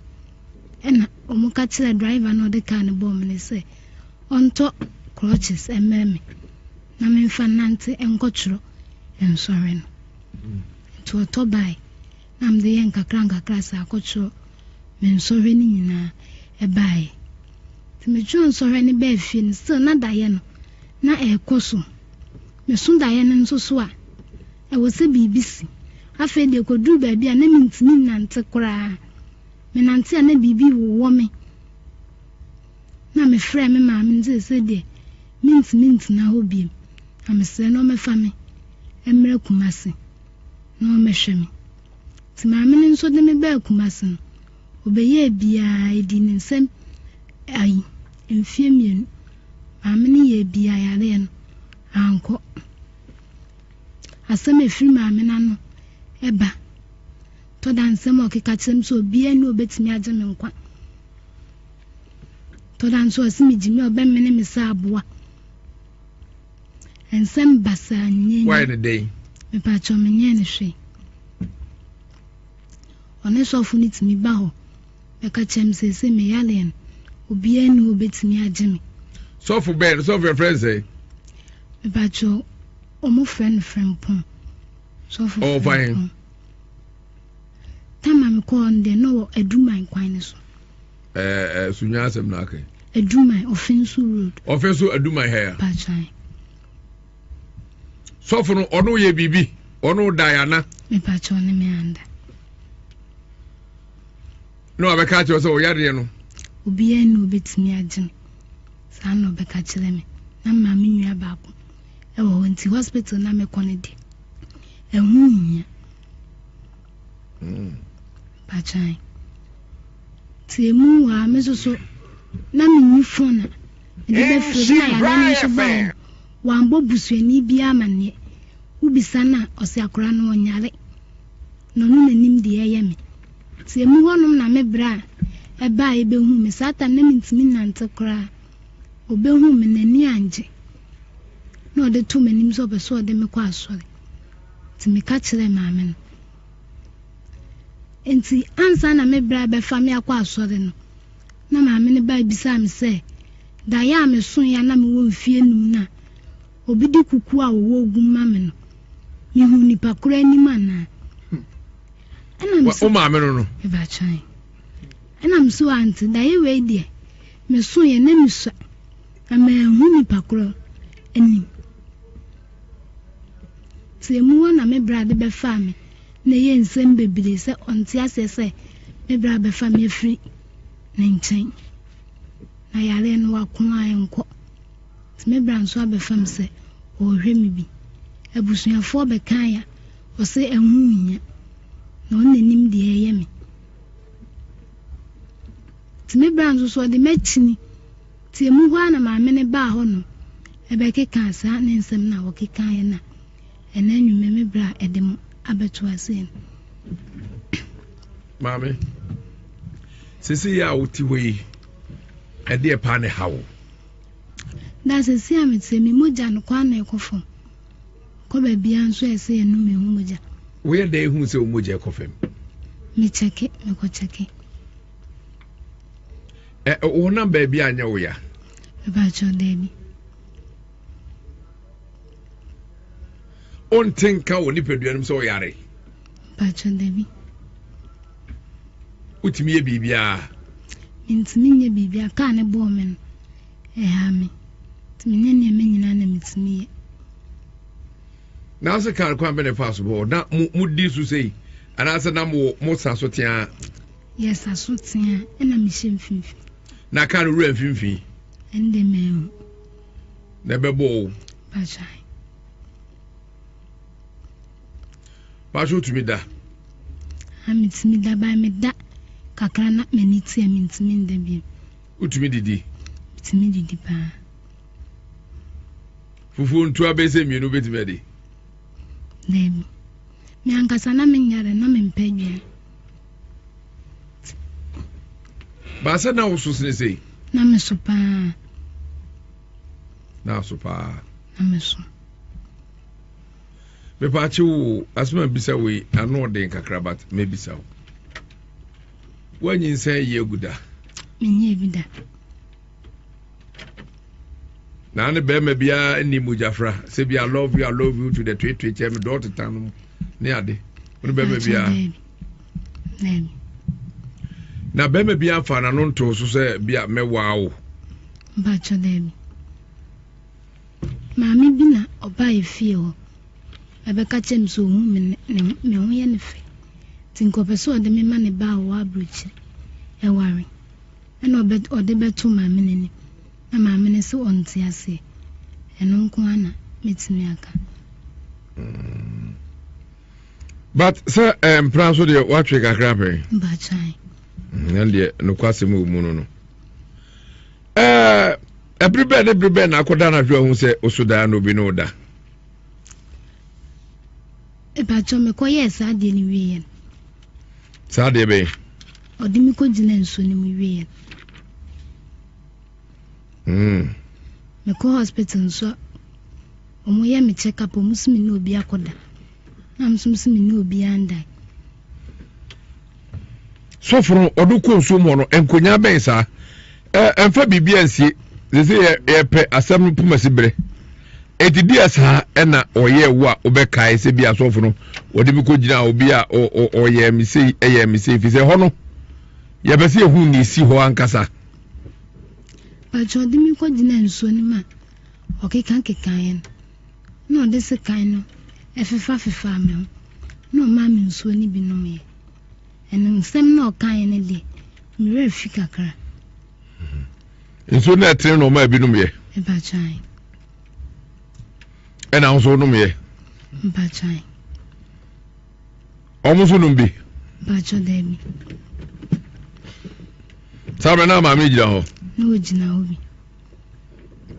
[SPEAKER 4] nna wɔka kyerɛɛ driver no a ɔdze kaar no bɔɔ me no sɛ ɔntɔ crutches mbrɛ me na memfa nnantse nkɔtwerɔ nsɔhwɛ no. Ntsi ɔtɔ bae na medze yɛ nkakrankakra dze akɔtwerɔ me nsɔhwɛ no nyina baeɛ. Ntsi metwerɛɛ nsɔhwɛ no baa fie no still na dayɛ no na ɛrekɔ so. Meso dayɛ no nso so a, Ɛwɔ sɛ biribi si. Afei deɛ ɛkɔduruu baabi a na mentumi nnante koraa. Menante a na biribi wowɔ me. Na mefrɛɛ me maame no seesei deɛ mentumi ntena hɔ biom. Na mesrɛ no ɔmmɛfa me mmra Kumasi na ɔmmɛhwɛ me. Nti maame no nso de me baa Kumasi no, ɔbɛyɛɛ biaa ɛdii ne nsam ayi, mfeɛ mmienu. Maame no yɛɛ biaa yareɛ no ankɔ. Asɛm a ɛfiri maame no ano ba. Tɔ da nsɛm a ɔkeka kyerɛ me sɛ obiara nni hɔ a obetumi agye me nkwa. Tɔ da nso ɔse me gyimi a ɔbɛmene me sɛ aboa. Nsɛm basaa nyɛ Why ne dɛn?
[SPEAKER 1] Mepatwɔ menyɛ
[SPEAKER 4] ne hwee. Ɔne sɔfo no tumi ba hɔ. Bɛka kyerɛ me seesei meyareɛ no, obiara nni hɔ ɔbɛtumi agye me. Sɔfo bɛn no?
[SPEAKER 1] Sɔfo yɛfrɛ no sɛn? Mepakyɛw,
[SPEAKER 4] wɔfrɛ no Frimpong. Sɔfo Ɔwɔ fan he? Frimpong.
[SPEAKER 1] Tam
[SPEAKER 4] a mekɔɔ hɔ no deɛ, na ɔwɔ Aduman kwan no so. Ɛɛ, ɛɛ,
[SPEAKER 1] Sunya asɛm na aka yi. Aduman, Ɔfensu
[SPEAKER 4] Road. Ɔfensu Aduman ha
[SPEAKER 1] ya. Pakyɛw. Sɔfo no, ɔno yɛ biribi? Ɔno dae ana? Mepakyɛw, ɔne me
[SPEAKER 4] anda.
[SPEAKER 1] na wabɛka akyerɛ sɛ ɔyareɛ no obiara nni
[SPEAKER 4] obɛtumi agye no saa na ɔbɛka kyerɛ me na mmaa me nua baako ɛwɔ hɔ nti hospital na mekɔ no deɛ ɛho nhia hmm. patwan nti ɛmu wɔ a me soso na menyi fon a mede bɛfrɛ bi na yɛadeɛ no nso baeɛ no wambɔ busuani biara amanneɛ wobisa no a ɔse akora no ɔnyare Na ɔno na nim deɛ ɛyɛ me. Nti emu hɔnom na me bra a ɛbaaeɛ bɛhuu me. Saa time no na mentumi nnante koraa. Ɔbɛhuu me, n'ani anngye. Na ɔde too m'anim sɛ ɔpɛ sɛ ɔde me kɔ asɔre. Nti meka kyerɛɛ maame no. Nti ansa na me bra rebɛfa me akɔ asɔre no, na maame no bae bisaa me sɛ, Daeɛ a mesoeɛ a na mewɔ mfeɛ nnum no a, Obi de kuku a wɔwɔ ogu ma me no, mehu nipa koro anim anaa? Ɛna me so. Wo maame no
[SPEAKER 1] no.
[SPEAKER 4] Ɛbɛkyɛn. Ɛna me so ante daeɛ wei deɛ, me so yɛ na me sua, na manhu nipa koro anim. Te emu hɔ na me bra de bɛfaa me na ɛyɛ nsɛm bebree sɛ ɔnte aseɛ sɛ me bra bɛfa me afiri ne nkyɛn. Na yareɛ no wako a ɛnkɔ. Me bra nso aba fam sɛ ɔrehwɛ me bi. Abusuafoɔ bɛkae a, ɔse ɛho nhia, na ɔno na nim deɛ ɛreyɛ me. Nti me bra nso so ɔde me akyini. Nti emu hɔ ara na maame no baa hɔnom bɛkekaa saa ne nsɛm no a wɔkekaeɛ no a ɛnɛ anwummerɛ me bra ɛde mo abɛto aseɛ no.
[SPEAKER 1] Maame, sisi yi a wote hɔ yi, ɛdeɛ paa na ɛha wo?
[SPEAKER 4] Daa sɛsi a mete me mogya no kwan na ɛkɔ fam kɔ baabia nso a ɛsɛ yɛnom mehu mogya. Woyɛ dɛn hu
[SPEAKER 1] sɛ wo mogya ɛkɔ fam? Me kyɛke
[SPEAKER 4] mekɔ kyɛke.
[SPEAKER 1] Ɛ wonam baabi a anyɛ wo ya? Mepakyɛw
[SPEAKER 4] daabi.
[SPEAKER 1] Wonte nka wɔ nipadua no mu sɛ ɔyare? Mepakyɛw
[SPEAKER 4] daabi.
[SPEAKER 1] Wotumi yɛ biribiara. Mintumi
[SPEAKER 4] nyɛ biribiara. Kaa no bɔɔ me no, ɛhaa me. Nti menyɛ nneɛma nyinaa na metumi yɛ.
[SPEAKER 1] Nanso kar kwan bɛn na ɛfaa so bɔ hɔ? Na mo mo di so sei anaasɛ na mo mo sa so teaa? Yɛsa so
[SPEAKER 4] teaa ɛna mehyɛ mfimfini. Na kar no wura
[SPEAKER 1] mfimfini? Ɛnde mɛn ho.
[SPEAKER 4] Na
[SPEAKER 1] ɛbɛbɔ o. Bajai. Baasi otumi da. Ha
[SPEAKER 4] metumi da baa meda kakra na m'ani te a mentumi nda bio. Wotumi didi?
[SPEAKER 1] Metumi didi
[SPEAKER 4] paa.
[SPEAKER 1] Fufuo ntua bɛyɛ sɛ mmienu wobɛtumi adi?
[SPEAKER 4] Daabi. Me ankasa na menyare na mempɛ aduane.
[SPEAKER 1] Baasa na woso sene sei? Na meso paa. Na aso paa. na me so. mepatse wo asɛm a bisa wei ano ɔden kakra but mebisa wo woanyinsɛn yi agu da menyɛ
[SPEAKER 4] bi da
[SPEAKER 1] na ne bɛrima biara nni mogyafra sɛ bi i love you i love you to the twetwe kyɛ me dɔɔ teta no mu ne ade wone bɛrima biara na bɛrima biara fa n'ano ntoo so sɛ bi a mɛwaa wo mpakyɛ
[SPEAKER 4] daabi Maame bi na ɔbae fie hɔ bɛbɛka kyerɛɛ me sɛ ohu me ne me ho yɛ no fɛ, nti nka ɔpɛ sɛ ɔde me ma ne ba a ɔwɔ aburokyiri aware. Ɛna ɔbɛ ɔde bɛto maame no anim, na maame no se ɔnte aseɛ. Ɛno nko ara na mɛtumi aka. Mm.
[SPEAKER 1] But sɛ eh, mpena nso deɛ woatwe kakra pɛn? Bakyae.
[SPEAKER 4] Mm, ɛn deɛ
[SPEAKER 1] nokwasɛm wɔ mu no no. Eh, Bere bɛn ne bere bɛn na akɔda anadwo ahu sɛ oso daa na obi ne wo da?
[SPEAKER 4] Ɛbɛkyɛ mekɔyɛɛ saa adeɛ no wie yɛn.
[SPEAKER 1] Saa adeɛ bɛn? Ɔde me kɔgyina
[SPEAKER 4] nsuo no mu wie yɛn. Hmm. Mekɔ hospital nso wɔn yɛ me check up wɔn si me ne obi akɔda. Na wɔn nso si me ne obi andan.
[SPEAKER 1] sɔfo no ɔde kɔ nsuo mu hɔ no nkonnyaa bɛn saa ɛmfa biribi ansie sese yɛpɛ asɛm no poma si berɛ ɛti di asaa ɛna ɔyɛ wo a wobɛkae sɛ bi asɔfo no wɔde me kɔgyina obi a ɔyɛ me sei ɛyɛ me sei fi sɛ hɔ no yɛpɛ sɛ yɛhu ne ɛsi hɔ ankasa
[SPEAKER 4] Pàtó ọdịmikọ dị na nsuo no ma ọkịka nkịka yẹn. na ɔde sekan no fefafefaa me ho, na ɔmaa me nsuo no bi nomeeɛ. Ɛno nsɛm na ɔkaeɛ no deɛ, me werɛ fi kakra. Hmm.
[SPEAKER 1] Nsuo no ɛtene na ɔmaa ebi nomeeɛ? Mpatwan.
[SPEAKER 4] Ɛna
[SPEAKER 1] nso nomeeɛ? Mpatwan. Wɔn nso nom bi? Mpatwa daabi. Saa mmerɛ na maame gyina hɔ? Na ɔgyina hɔ bi.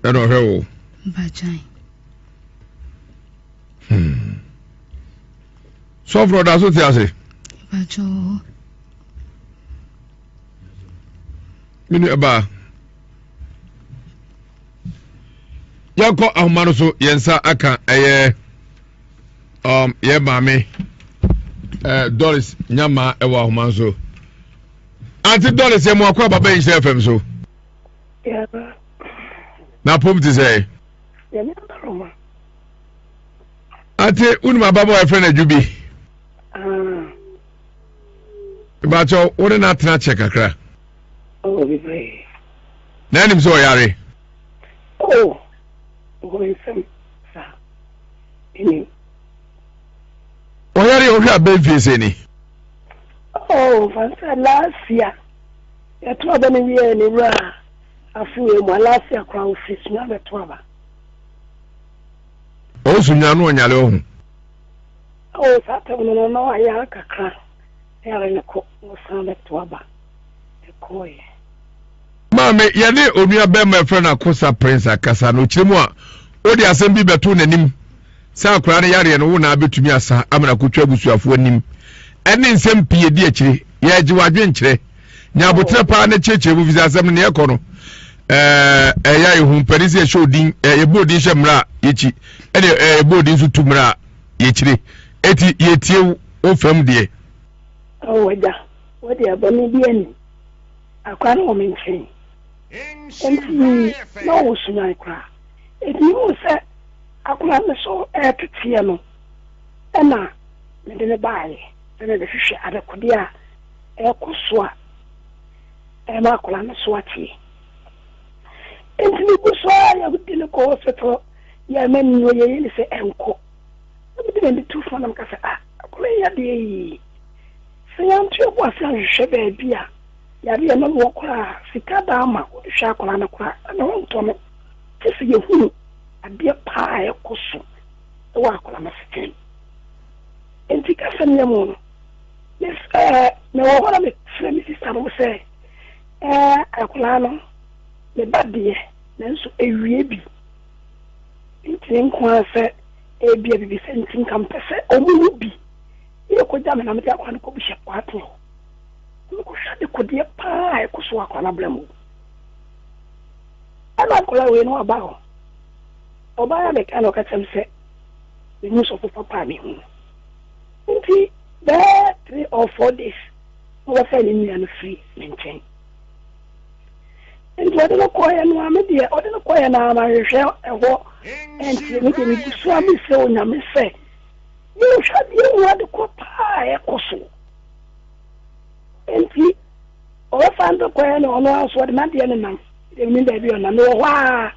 [SPEAKER 1] ɛna ɔhwɛ wo bagyan hmm. sɔfrɔ da so te ase bagyoo me nua baa yɛkɔ ahoma no so yɛn nsa aka ɛyɛ um, yɛ maame uh, doris nyama ɛwɔ ahoma no so ante doris yɛ mo akɔ ababa yi nhyɛ fam so n'apom te sɛ ate wonim ababɔ a ɛfrɛ no adwo bi bakyɛ wode no atena kyɛ kakra
[SPEAKER 5] na anim
[SPEAKER 1] sɛ ɔyare ɔyare ɔhwɛ abɛmfie sɛ ni
[SPEAKER 5] oh, Yɛto aba no wie a, ne wura afow emu.
[SPEAKER 1] Alaafia koraa ofi Sunya bɛto aba. Ɔwɔ Sunya na ɔnyare ɔho. Awo
[SPEAKER 5] saa tam no na wayare kakra
[SPEAKER 1] na yare no kɔ na ɔsan bɛto aba. Ɛkɔɔeɛ. Maame, yɛne onua bɛrima ɛfrɛ no Akosa Prince akasa na ɔkyerɛ mu a, wode asɛm bi bɛto n'anim sɛ akwaraa no yareɛ no wo na abɛtumi asa amena kɔtwa abusuafoɔ anim ɛne nsɛm pii ɛdi akyire. Yɛregye w'adwenkyerɛ. ne aboterɛ paa na ɛkyerɛkyerɛ mu fisɛ asɛm no ne ɛkɔ no ɛyɛ yɛ ho mpɛne sɛ yɛhyɛ odin yɛbɔ odin hyɛ mmerɛ a yɛkyi ɛne yɛbɔ odin nso tu mmerɛ a yɛkyire ɛti yɛtie wo fam deɛ ɔwɔgya
[SPEAKER 5] wode abɔne bi ani akora no wɔ me nkyɛn ɛnti na ɔwɔ suman koraa ɛti mu sɛ akora me so ɛteteɛ no ɛna mede ne baayɛ sɛ mebɛhwehwɛ adekodeɛ a ɛkɔ so a, ɛma akwadaa no so ateɛ. Enti megu so ara yɛ mede no kɔ hospital yɛ ama ni no yɛyɛ ne sɛ ɛnkɔ. Na mede m'ani to fa na meka sɛ ah akwadaa yi yadeɛ yi sɛ yɛanto yɛbo ase anhwehwɛ baabi a yare yɛ nam wɔ koraa sika da ama wɔde hwɛ akwadaa no koraa na wɔntɔ no gye sɛ yɛhunu adeɛ paa a ɛkɔ so wɔ akwadaa no asetena mu. Enti ka sɛm yɛ mo no. Yes eh me wɔ hɔ na me frɛ me sister nom sɛ eh akwadaa no me ba deɛ nanso ɛwie bi ntini nko ara sɛ ɛbia bibi sɛ nti nka mpɛ sɛ ɔmo mu bi yɛ kɔ gya me na mede akwadaa no kɔ buhyɛ kɔ ateɛ hɔ na me kɔ hwɛ ade kɔdeɛ paa a ɛkɔ so akwadaa no abla mu ɛna akwadaa wei no aba hɔ ɔbaa yɛ meka na ɔka kyɛm sɛ me mu sɔfo papa a me hu no Nti bɛyɛ three or four days na ɔbɛfrɛ ne nua no firi me nkyɛn. Nti ɔde no kɔeɛ no ara me deɛ ɔde no kɔeɛ no ara manhwehwɛ ɛhɔ ɛnteɛ me deɛ meguso ara mesrɛ Onyame sɛ menhwɛ adeɛ mu ade kɔ paa a ɛkɔ so. Nti ɔbɛfa no kɔeɛ no ɔno ara nso ɔde n'adeɛ no nam deɛ menim baabi ɔnam mewɔ hɔ ara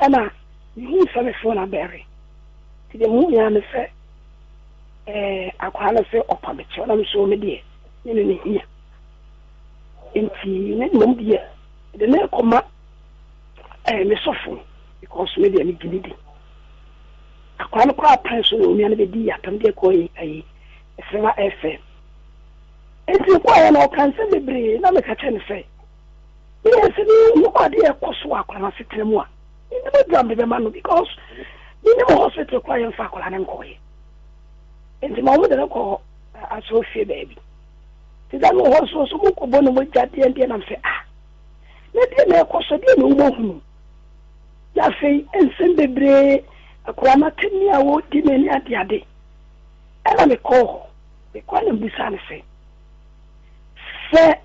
[SPEAKER 5] ɛna mehu sɛ me phone abɛre nti deɛ mehu yɛ ara me sɛ Ɛɛ, akwadaa no se ɔpa me kyɛw, na me nso me deɛ, me ne no hia. Enti me ne mmom deɛ, mede no rekɔma ɛɛ, me sɔfo, because me deɛ megye no di. Akwadaa no koraa pɛn so na onua no bɛdii apam deɛ kɔɔ yi ayi, ɛsɛma ɛfɛ. Enti ɔkɔeɛ na ɔka nsɛm bebree, na meka kyerɛ no sɛ, Yes me hu ade a ɛkɔ so wɔ akwadaa no asetena mu a me nim aduro a me de bɛma no because me nim hospital koraa yɛn fa akwadaa no nkɔ yɛ nti ma wɔn de no kɔ asɔrɔ fie baabi ti da no hɔ nso nso mo kɔ bɔ ne mo gya deɛ deɛ nam sɛ ah na deɛ na ɛkɔ so deɛ na wɔn ahunu na afei nsɛm bebree akwadaa no atɛni a wɔdi na ɛne ade ade ɛna me kɔ hɔ me kɔ na mbisa ne sɛ sɛ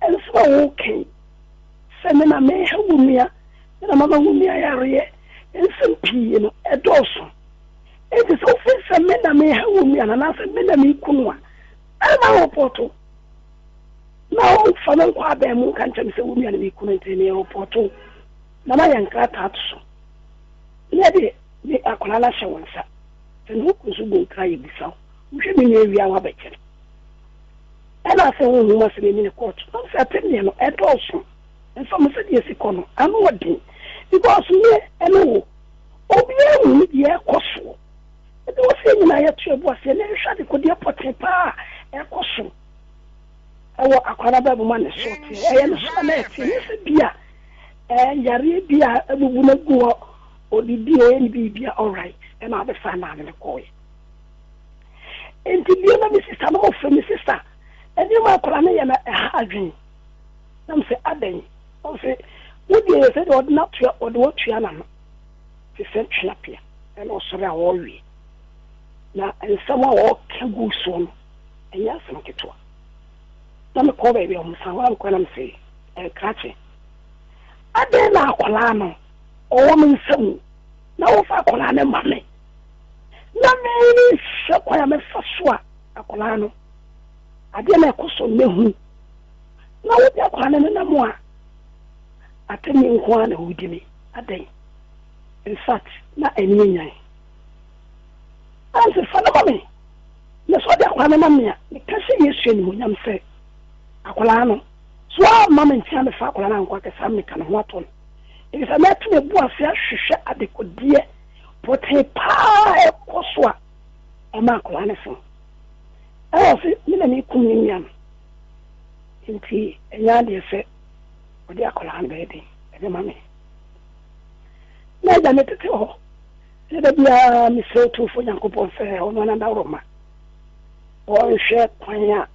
[SPEAKER 5] Nsɛm a wɔka yi, sɛ me na mereha wo nua, me na mama wo nua yareɛ, ne nsɛm pii no, ɛdɔɔso. Enti sɛ wofiri sɛ me na mereha wo nua no anaasɛ me na mereku no a, ɛremma worepɔɔto na womfa no nkɔ abɛn mu nka nkyerɛ me sɛ wo nua na mereku no nti merepɔɔto wo na mayɛ nkrataa ato so. Yɛ deɛ me akwadaa no ahyɛ wo nsa. Sɛ ne ho ku nso bɔ nkra yɛbisa wo. Wohwɛ me nua wie a woabɛkyɛ no. Nna sɛ honhom asɛm enyi no kɔɔto no mfe apem nye no, ɛdɔɔ sõ nso ma sɛdeɛ esi kɔ no ano wɔ den because me ne wo obiara nhu ne deɛ ɛrekɔ soɔ. Enti ɛwɔ sɛ yɛn nyinaa yɛto yɛn bo aseɛ na yɛhwɛ adekodeɛ pɔtee pa ara a ɛrekɔ so wɔ Akwaa no abrabɔ mu a ne soɔ teɛ, ɛyɛ ne soɔ a na ɛteɛ, nyɛ sɛ bi a ɛɛ yareɛ bi a abubu no agu hɔ, ɔdidi, ɔyɛ ne biribi a, alright, ɛna abɛfa nnaa ne no kɔɔeɛ. Enti bio na me sista no mofrɛ me sista. Nneɛma a akwadaa no yɛ na ɛha adwene. Na mese adɛn? Ɔse wo deɛ yɛ sɛdeɛ ɔde n'atoa ɔde w'atua n'ano te sɛ tweapea na ɔsɔre a ɔrewe. Na nsɛm a ɔreka gu soɔ no ɛnyɛ asɛm ketewa. Na mekɔɔ baabi a wɔsan hɔ na mekɔɛ na mese eh, krakye adɛn na akwadaa no ɔwɔ me nsa mu na wofa akwadaa no ma me? Ná merehwɛ kwan a mɛfa so a akwadaa no, adeɛ no a ɛkɔ so nnɛ hu. Ná wode akwadaa no nenam a, atɛnni nko ara na wodi me. Adɛn? In fact, na ani yɛ nyan. Nancy, fa no ma me. Na sɛ wode akwadaa no nam me a, meka hyɛ Yesu animuonyam sɛ, akwadaa no, so woamma me nkyɛn ammɛfa akwadaa no ankɔ akɛse ammeka ne ho ato no? Efisɛ mɛto m'abu ase ahwehwɛ adekodeɛ pɔtee paa a ɛkɔ so a ɛma akwadaa no fom. Ɛna ɔse, me na mekum ne nua no, nti ɛnyɛ adeɛ sɛ ɔde akwadaa no bɛyɛ den ɛde ma me. Na agya me tete hɔ, na da biara mesrɛ Otumfoɔ Nyankopɔn sɛ ɔno ara n'adaworoma ɔnhwɛ kwan a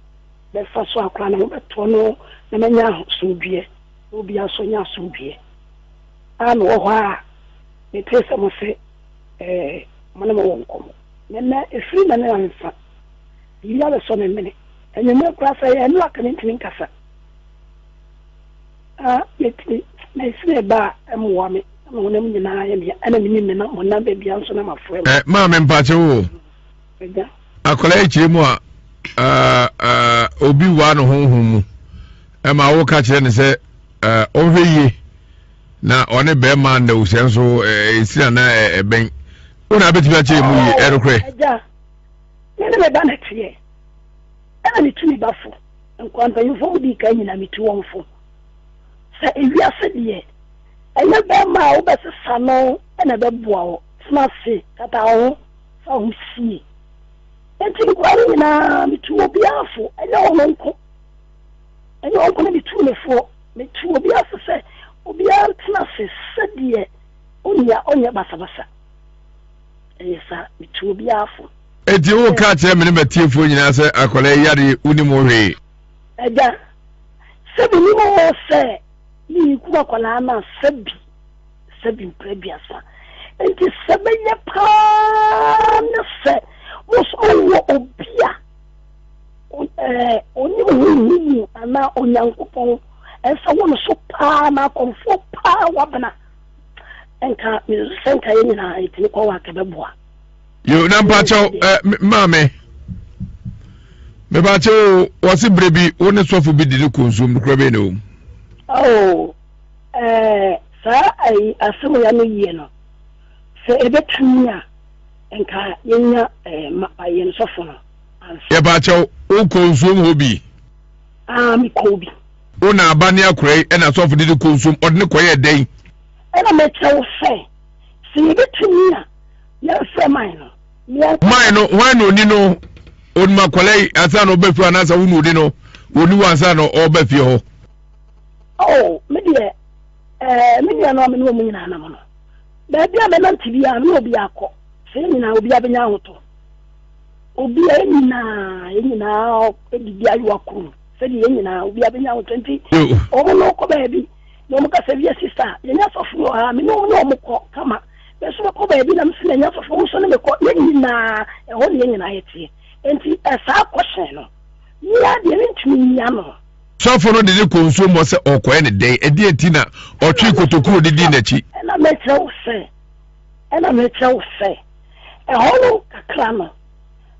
[SPEAKER 5] bɛfa so akwadaa no ho bɛtoɔ no na manya asomdwoeɛ na obiara nso anya asomdwoeɛ. a mewɔ hɔ a metee sɛ mose ɛɛ mo ne mo wɔ nkɔmmɔ na ɛnnɛ ɛfiri na ne ansa biribi abɛsɔ me mene anwummerɛ koraa sɛ ɛyɛ ɛno a ka mentumi nkasa a metumi na ɛsi me ba a ɛmmoa me na me honam nyinaa yɛ me ɛna menim me na mo nam baabi a nso na mafoa mu. Eh, maa me mpakyɛ wo.
[SPEAKER 1] Akwadaa akyire mu a obi waa no honhom mu ɛma woka kyerɛ no sɛ ɔnhwɛ yie na ɔne bɛrima na ohyɛ nso ɛsira na ɛbɛn wo na abɛtumi akyerɛ mu yie ɛnokorɛ
[SPEAKER 5] ɛne me ba na teɛ ɛna metu me ba fo nkwa mpanyimfoɔ mu dii kan nyina metu wɔn fo sɛ ewiase deɛ ɛnyɛ bɛrima a wobɛsesa no ɛna ɛbɛboa wo tena ase tata wo ho fa ho sie. Enti nkoa no nyinaa, metuu obiara fo, ɛnyɛ ɔno nko, ɛnyɛ ɔno nko na metuu no foɔ, metuu obiara fo sɛ obiara ntena ase sɛdeɛ ɔnni a ɔnyɛ basabasa. Ɛyɛ saa, metuu obiara fo. Enti woreka akyerɛ
[SPEAKER 1] me ne m'atiefoɔ nyinaa sɛ akwadaa yi yareɛ yi, wonim ho hwee? Agya,
[SPEAKER 5] sɛ menim oo, sɛ mereku akwadaa no a, sɛ bi. sɛ bi mprɛ aduasa. Enti sɛ ɛbɛyɛ paa ne sɛ moso mowɔ obi a ɔnim honhom mu anaa Onyankopɔn ɛsɛ wo no so paa na akɔmfoɔ paa wabena nka mesusu sɛ nka yɛ nyinaa yɛtumi kɔ wɔ akɛbɛboa yo na
[SPEAKER 1] mpakyɛw maame mepakyɛw wɔ se berɛ bi wo ne sɔfo bi di ne kɔnsuom no kora bɛi na ɔmu
[SPEAKER 5] Ɛɛ, saa ayi asɛm yi ano yie no, sɛ ɛbɛtumi a, nka yɛnya ɛɛ ma yɛn sɔfo no ansa. Yɛpa kyɛw,
[SPEAKER 1] wo kɔ nsuom hɔ bi? Aa, me
[SPEAKER 5] kɔɔ bi. Wo na aba ne
[SPEAKER 1] akora yi ɛna sɔfo de ne kɔ nsuom, ɔde ne kɔ yɛɛ dɛn? Ɛna me kyerɛ
[SPEAKER 5] wo sɛ, sɛ yɛbɛtumi a, yɛn frɛ man no, ne yɛn kɔ. Man no,
[SPEAKER 1] hwan na ɔni no? Ɔnim akwadaa yi ansa na ɔba fie hɔ anaasɛ wo na ɔni no? Ɔni hɔ ansa na ɔba fie hɔ. Oh,
[SPEAKER 5] me deɛ, eh, me nuanom a me ne wɔn nyinaa nam no, baabi a mɛnante biara no, me ne obiara kɔ. Sɛ yɛn nyinaa, obiara bɛnya ahotɔ. Obi a yɛn nyinaa, yɛn nyinaa didi ayowa koro mu. Sɛdeɛ yɛn nyinaa, obiara bɛnya ahotɔ nti, wɔn ne wɔkɔ baabi. Na wɔn kasa bi yɛ sista, yɛn asɔfo wɔ ha, me ne wɔn ne wɔn kɔ kama. Nanso mekɔ baabi na mesi na yɛn asɔfo wɔn nso ne mekɔ, yɛn nyinaa, ɛhɔ ne yɛn nyinaa yɛteɛ. Nti, eh, saa kɔhyɛn no, mia deɛ mentumi nyia no. Sɔfo no de no kɔ
[SPEAKER 1] nsuo mu hɔ sɛ ɔrekɔyɛ ne dɛn? Ɛdeɛn nti na ɔtwee kotoku a ɔde dii n'akyi? Ɛna mekyerɛ wo
[SPEAKER 5] sɛ, ɛna mekyerɛ wo sɛ, ɛhɔ nom kakra no,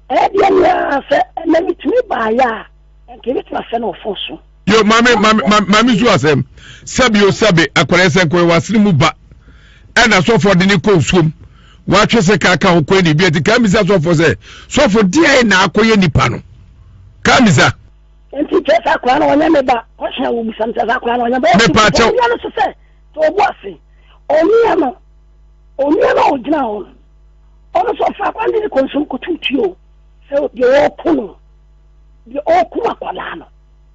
[SPEAKER 5] ɛyɛ deɛ me ara sɛ ɛnɛ metumi baeɛ a, ɛnka ɛbɛtumi asɛ no ɔfo so. Yo, maame, maame,
[SPEAKER 1] maame, maame su asɛm. Sɛbe o sɛbe, akwadaa yi sɛ nkɔyɛ w'asene mu ba. Ɛna sɔfoɔ de no kɔ nsuo mu. Watwe sɛ kaa ka ho kɔɛ ne bi ati. Kaa misa sɔfoɔ sɛ, sɔfo deɛn na akɔyɛ nipa no? Kaa misa. Nti
[SPEAKER 5] kyerɛ sɛ akwadaa no ɔnyɛ ne ba. Question a wobisa no kyerɛ sɛ akwadaa no ɔnyɛ ba. Ɔsi Mepa kyɛw. onua no so
[SPEAKER 1] sɛ, to
[SPEAKER 5] wo bo ase. Onua no, onua no a ogyina hɔ no, ɔno nso ɔfa akwadaa no de ne kɔ nsuom kotow tui o. Sɛ deɛ ɔreko no, deɛ ɔrekum akwadaa no,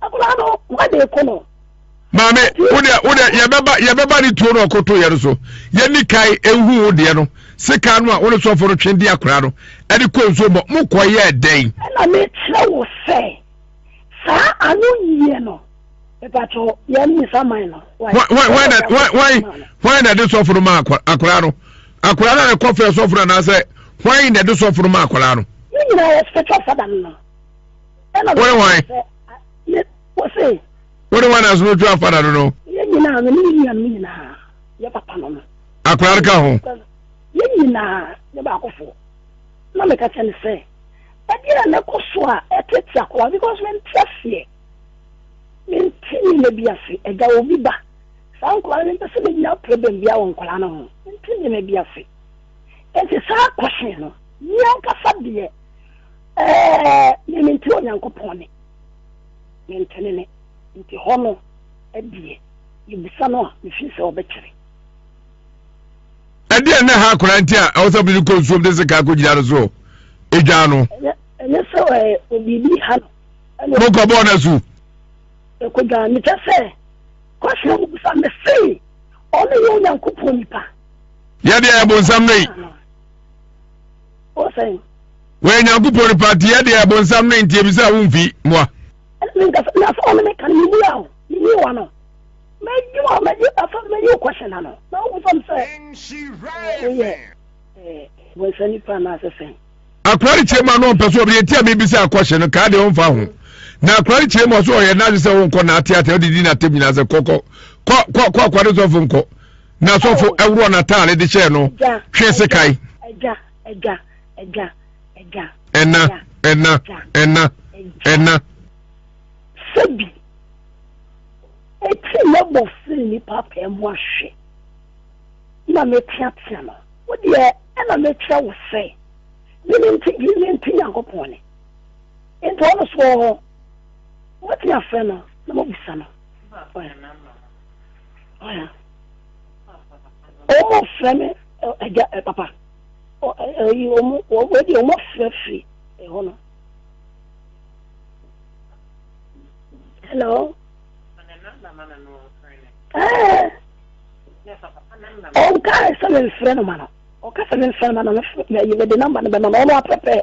[SPEAKER 5] akwadaa no, why na ɛko no? maame
[SPEAKER 1] wo deɛ wo deɛ yɛbɛba yɛbɛba ne tuo no ɔkoto yɛ no so yɛni kan ehu wo deɛ no sika no a wo ne sɔfo no twe di akora no ɛde kɔ nsuo bɔ mo kɔ yɛ dɛn. ɛna mi kyerɛ
[SPEAKER 5] wo sɛ saa ano yie no mepatɔ yɛn
[SPEAKER 1] nisa man no. wɔn na ɛde sɔfo no ma akora no akora no na ɛkɔ fɛ sɔfo no anaasɛ wɔn na ɛde sɔfo no ma akora no. ne nyinaa yɛ spiritual
[SPEAKER 5] father no. wone
[SPEAKER 1] wan
[SPEAKER 5] wone wan na so
[SPEAKER 1] twa fada no
[SPEAKER 5] no akora no ka ho
[SPEAKER 1] yɛn nyinaa
[SPEAKER 5] yɛ baakofo na meka kyɛ ne sɛ ɛdeɛ a nɛkɔ so a ɛtete akora because mente aseɛ mente nneɛma bi ase ɛgya wɔ bi ba saa nkora no mpɛ sɛ menya problem bia wɔ nkora no ho mente nneɛma bi ase ɛnti saa kɔhye no yɛnkasa deɛ Ɛɛ, ne ne nti Onyankopɔn ne ne ntenene nti hɔ no deɛ, yɛbisa no a, mefiri sɛ ɔbɛkyerɛ.
[SPEAKER 1] Ɛdeɛn na ɛha akwadaa nti a ɛwɔ sɛ mede kɔ nsuom de sekaa kɔgyina no so dwaa no? Ɛnyɛ sɛ
[SPEAKER 5] biribi ha no. Mokɔbɔɔ
[SPEAKER 1] no asu? Ɛkɔdwaa
[SPEAKER 5] no. Kyɛ sɛ, kɔhyɛ mu bisa me se, ɔno yɛ Onyankopɔn nipa? Yɛdeɛ yɛ
[SPEAKER 1] bonsam no yi.
[SPEAKER 5] wɔyɛ nyankopɔn
[SPEAKER 1] nipa nti yɛ deɛ bonsam no nti ebi sɛ womfi mmoa
[SPEAKER 5] akora no kyerɛ mu a
[SPEAKER 1] na ɔmpɛ so ɔbɛyɛ ti a mebisa akɔhye no kaa deɛ ɔmfa ho na akora no kyerɛ mu a so ɔyɛ n'adwe sɛ wonkɔ n'ateatea wode di n'atam nyinaa sɛ kɔkɔ kɔ kɔ akɔde sɔfo nkɔ na asɔfo ɛworɔ n'ataade de hyɛɛ no twe sekan. Ɛna, ɛna, ɛna, ɛna.
[SPEAKER 5] Sɛbi, eti mɛbɔ firi nipa pɛɛ mu ahwɛ, na meteatea no, wo deɛ ɛna mekyerɛ wo sɛ, mene nti, mene nti Nyankopɔn ne. Nti ɔno so wɔ hɔ, wɔte afrɛ no na mabisa no. wɔn frɛ me agya ɛ papa ɛyi wɔn wɔn de wɔn afrɛ firi ɛhɔ no. hello. ɛɛ ɔnka sɛ me nfrɛ no ma no ɔka sɛ me nfrɛ no ma no na yi mede namba no bɛma ma ɔno apɛpɛ.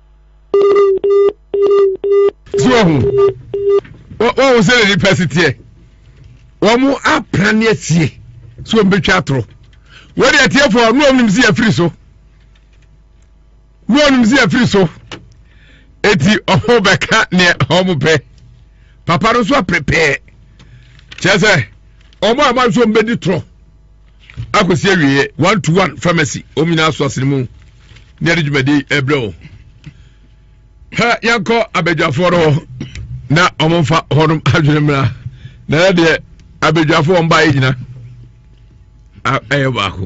[SPEAKER 1] so wahu wahu sɛ na nipa si teɛ wɔn apra ne asie so wɔn bɛtwa atorɔ wɔde atiefoɔ ne wɔn nim si afiri so ne wɔn nim si afiri so eti ɔho bɛka nea wɔn pɛ papa no nso apɛpɛɛ kyerɛ sɛ wɔn a wɔn nso wɔn bɛdi torɔ. akɔsi awieɛ one to one pharmacy wɔn nyinaa so asene mu ne ɛde dwumadi ɛbrɛ wɔn ha yɛnkɔ abadwafoɔ no hɔ na wɔn mfa hɔnom adwene mmra na ɛyɛ deɛ abadwafoɔ wɔn baayɛ nyina ɛyɛ baako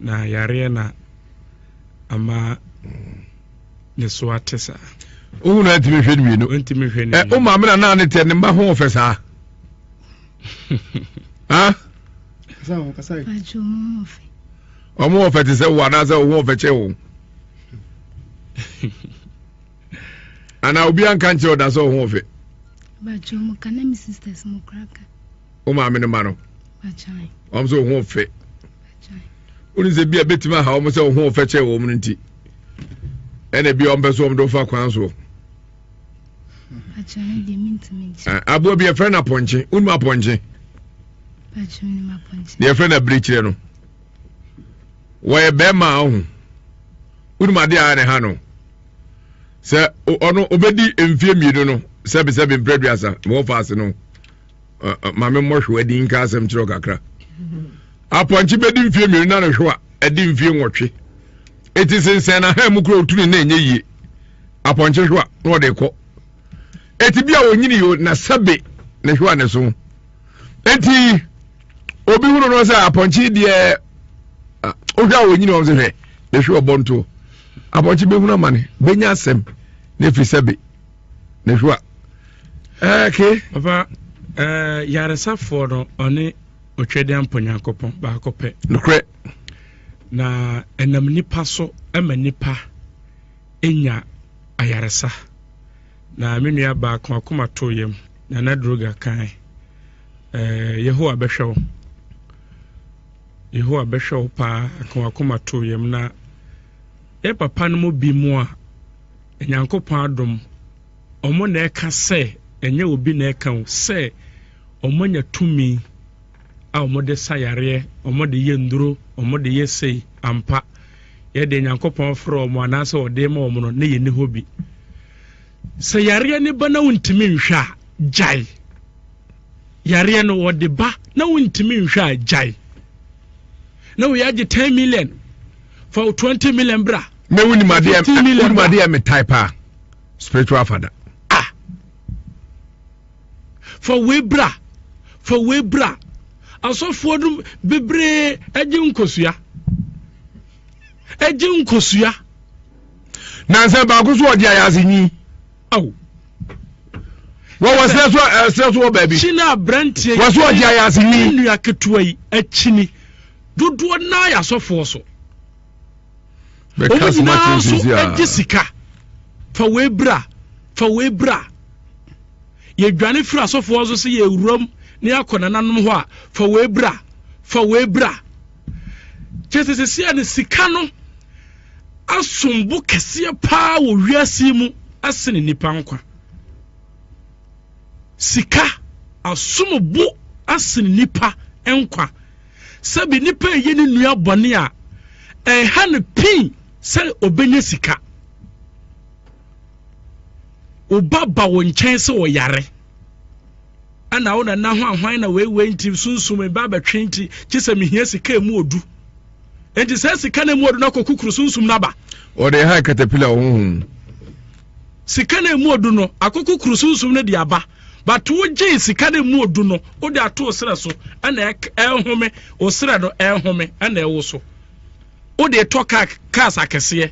[SPEAKER 2] Na yareɛ na ama ne so ate saa. Wohu na
[SPEAKER 1] ntumi hwɛ no mmienu. Ntumi hwɛ no mmienu. Wo maame na naa ne tɛ ne mma ho ɔfɛ saa. Ɔmo ɔfɛ te sɛ wo anaasɛ wo ho ɔfɛ kyɛ wo. Anaa obi anka nkyerɛ ɔda sɛ ɔho ɔfɛ. Bàtchɛ ɔmo
[SPEAKER 4] ka na mi sisters mo kura ka. wo maame no ma
[SPEAKER 1] no wɔn sɛ wɔn fɛ wɔn sɛ bi a betumi aha wɔn sɛ wɔn fɛ kyɛn wɔn no nti ɛna bi a wɔn pɛ so wɔn de fa kwan so aboa bi yɛfrɛ no apɔnkye wonum apɔnkye deɛ yɛfrɛ no abirikyerɛ no wɔyɛ bɛrima a ɔho wonum adeɛ a ne ha no sɛ ɔno ɔbɛdi mfie mmienu no sɛbisɛbi mpere duasa wɔn fa ase no. maame mmɔhwewa di nka asɛm kyerɛ kakra apɔnkye bɛdi mfie mmienu na nhwewa ɛdi mfie nwɔtwe ɛti sensɛn na ha mu kura otuni na ɛnyɛ yie apɔnkye hwewa na ɔde kɔ ɛti bi a ɔnyini yo na sɛbe ne hwewa ne so ɛti obi hunu no sɛ apɔnkye deɛ wohwɛ a ɔnyini ɔm sɛ hwɛ ne hwewa bɔntoɔ apɔnkye bɛhunu amane bɛnya asɛm na ɛfiri sɛbe ne hwa ɛɛke eh, papa
[SPEAKER 2] eh, yaresafoɔ no ɔne ɔtwɛdeɛ mpɔ nyankopɔn baako pɛ nokorɛ
[SPEAKER 1] na
[SPEAKER 2] ɛnam nipa so ma nipa nya ayaresa na me nua baako akoma to yam na na droga kan eh, yehowa bɛhwɛ wo yehowa bɛhwɛ wo paa akoma to yam na yɛ papa no mu bi mu a Nyankopɔn adom, wɔn na ɛka sɛ, ɛnyɛ obi na ɛka o, sɛ wɔanya tumi a wɔde sa yareɛ, wɔde yɛ nnuro, wɔde yɛ sei, ampa, yɛde Nyankopɔn frɛ wɔn anaasɛ wɔde ma wɔn no, na yɛni hɔ bi. Sɛ yareɛ ne ba na wontumi nhwɛ a, gyae. Yareɛ no wɔde ba na wontumi nhwɛ a, gyae. Na wɔyɛ agye 10 million, fa 20 million bra. na wonim adeɛ
[SPEAKER 1] wonim adeɛ me tae paa spiritual father ah
[SPEAKER 2] fa wei bra fa wei bra asɔfoɔ no bebree agye nkosua agye nkosua
[SPEAKER 1] nansɛ baako so ɔde ayɛ ase nyi aw wɔwɔ serɛ so serɛ so wɔ baabi kyini aberanteɛ wɔ
[SPEAKER 2] so ɔde ayɛ ase
[SPEAKER 1] nyi nnua ketewa yi
[SPEAKER 2] akyini dodoɔ naa yɛ asɔfoɔ so wɔn
[SPEAKER 1] nyinaa nso gye sika
[SPEAKER 2] fa wei bra fa wei bra yɛdwane firi asɔfoɔ nso sɛ yɛwuram ne
[SPEAKER 6] akɔ nananom hɔ a fa wei bra fa wei bra kyɛ sɛ sɛsia no sika no asombo kɛseɛ paa wɔ wiase mu asene nnipa nkwa sika asombo asene nnipa nkwa sɛbi nipa ɛyɛ ne nua bɔne a ɛha no pii sɛ ɔbɛnya sika woba ba wo nkyɛn sɛ ɔyare ɛna wo nana ho ahwan na weiwei nti sunsum ba bɛtwe nti kye sɛ mehia sika ɛmu ɔdu nti sɛ sika no ɛmu ɔdu no akɔkukuru sunsum no aba ɔde ha katapila
[SPEAKER 1] ɔhohom
[SPEAKER 6] sika no ɛmu odu no akoko kuru sunsum no de aba but wo gyee sika no ɛmu odu no wo de ato osrɛ so ɛna ɛhome osrɛ no ɛhome ɛna ɛwo so wo de tɔ kaa kaas akɛseɛ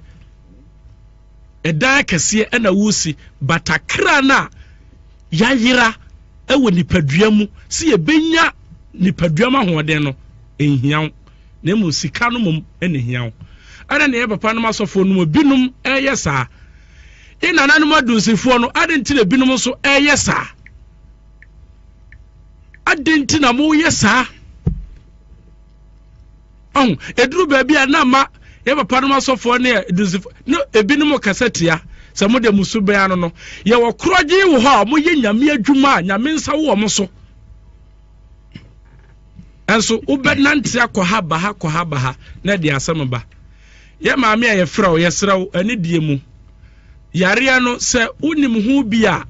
[SPEAKER 6] ɛdan akɛseɛ ɛna wosi batakra no a yayera ɛwɔ nipadua mu si yɛbɛnya nipadua mu ahoɔden no ɛnhia wo na mmom sika no mmom na ehia wo. Adɛn na yɛn papanom asɔfoɔ no mu binom reyɛ saa? Yɛn nananom adunsifoɔ no, adɛn nti na ebinom nso reyɛ saa? Adɛn nti na moyɛ saa? Ɔho, eduru baabi a na ama yɛn papanom asɔfoɔ ne adunsifoɔ no ebinom kasa tia sɛ mo de mo su bɛn ano no. Yɛwɔ korɔgye wɔ hɔ a wɔyɛ nyame adwuma a nyame nsa wɔ wɔn so. nso wobɛnante akɔ ha ba ha kɔ ha ba ha na ɛde asɛm ba yɛ maame a yɛfrɛ wo yɛsrɛ wo ɛne deɛ mu yareɛ no sɛ wonim ho bi a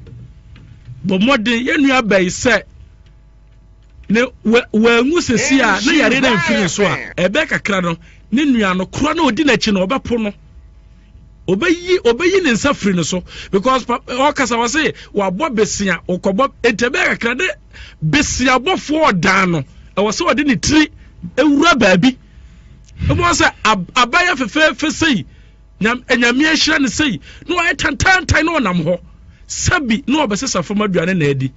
[SPEAKER 6] bɔ mmɔden yɛnua bɛyi sɛ ne wɔanwu sɛsi a na yareɛ no amfiri so a ɛbɛyɛ kakra no ne nua no korɔ na ɔdi n'akyi no ɔbɛpo no obeyi obeyi ne nsa firi no so because ɔkasa wɔ se wabɔ besia ɔkɔbɔ ntɛbɛ kakra ne besia bɔfoɔ ɔdan no ɛwɔ sɛ ɔde ne tiri ewura baabi ebi wɔ sɛ abayɛ fɛfɛɛfɛ sei nyame ahyira ne sei na wayɛ tantantan na ɔnam hɔ sɛbi na ɔbɛsesa fam aduane na adi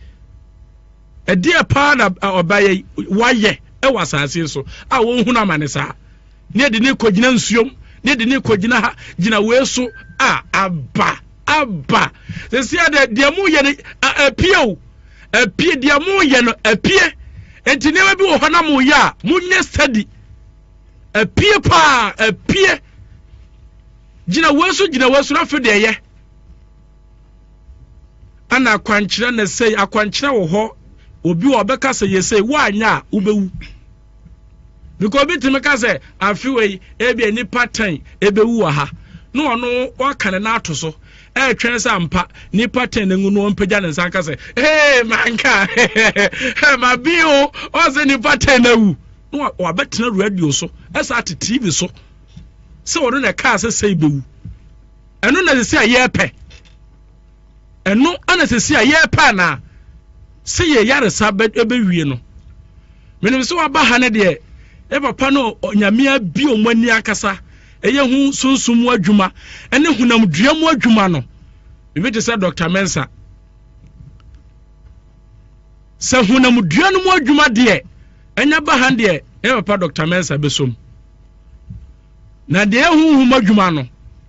[SPEAKER 6] ɛdeɛ paa na ɔbayɛ wayɛ ɛwɔ asase so a wɔn ho na ama ne saa. Ne yɛde no rekɔgyina nsuom, ne yɛde no rekɔgyina ha, gyina wei so a, aba, aba. Sɛsi a deɛ, deɛ moyɛ no, apue o, apue, deɛ moyɛ no, apue. Nti nneɛma bi wɔ hɔ na moyɛ a, monyɛ study. Apue paa, apue. Gyina wei so, gyina wei so, na afei deɛ ɛyɛ. Ana akwankyerɛ na ɛsɛe, akwankyerɛ wɔ hɔ, obi wɔ ɔbɛka sɛ yɛsɛe, woanyɛ a, wobɛwu. Because obi tumi ka sɛ afe wɔ yi ebia nipa ten ebewu wɔ ha na ɔno waka ne nan ato so ɛretwɛn sɛ ampa nipa ten ne ngu no ɔmpagya ne nsa nka sɛ ee manka ma bi o ɔsɛ nipa ten na awu na wabɛtena radio so ɛsɛ ate tv so sɛ ɔno na ɛkaa sɛ sɛ ibewu ɛno na sɛ sɛ yɛpɛ. ɛno ana sɛsi a yɛrepɛ anaa sɛ yɛ yaresa bɛwie no menim sɛ waba ha no deɛ yɛ papa no onyamea bi ɔmo ani akasa ɛyɛ ho sunsum mu adwuma ɛne honam dua mu adwuma no ebi te sɛ dr mensa sɛ honam dua no mu adwuma deɛ ɛnyɛ ba ha deɛ yɛ papa dr mensa bɛsom Na deɛ honhom adwuma no,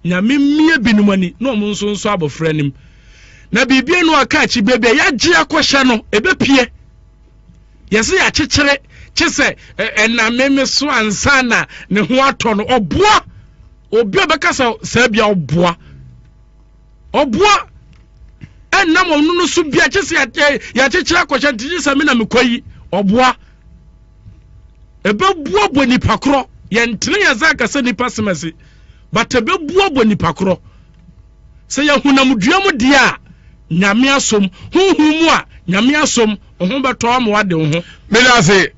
[SPEAKER 6] Nyame mmue binom ani na wɔn nso nsɔ abɔfra anim. Na biribi anu aka akyi berɛ bi a, yɛagye akɔhyɛ no, ɛbɛpue. Yɛse yɛakyekyere, kye sɛ ɛname me so ansa na ne ho atɔ no, ɔboa. Obi a ɔbɛka sɛ saa bia ɔboa. Ɔboa. Ɛnam ɔno no so bia, kye sɛ yɛakyekyere akɔhyɛ nti, kye sɛ me na mekɔ yi, ɔboa. ɛbɛboaboa nipa korɔ yɛntene yɛn nsa nka sɛ nipa semɛse but ɛbɛboaboa nipa korɔ sɛ yɛ honam dua mu deɛ a nyame asom honhom mu a nyame asom ɔho bɛtɔ ama wade wo ho meda ase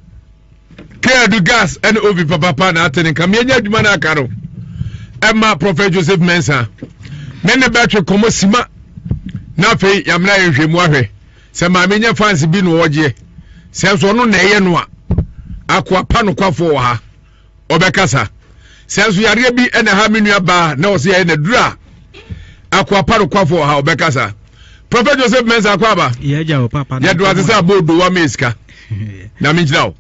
[SPEAKER 1] kɛadu gas ɛne ovi papapa na atene nka meɛnya adwuma no aka no ɛma prɔfɛt joseph mensa ne ne bɛtwe kɔmmɔ sima na afei yɛamena yɛnhwɛ mu ahwɛ sɛ maame nyɛ fans bi na ɔgyeɛ sɛ nso ɔno na ɛyɛ no a akoa pa nokwafoɔ wɔ ha ɔbɛkasa sɛ nso yareɛ bi ɛna ha me nua baa na ɔsɛ yɛyɛ na duru a akoa pa nokwafoɔ wɔ ha ɔbɛkasa prɔfɛ joseph mensa akɔ aba yɛdo
[SPEAKER 2] ase sɛ abɔ odo wa
[SPEAKER 1] me sika na menkyira wo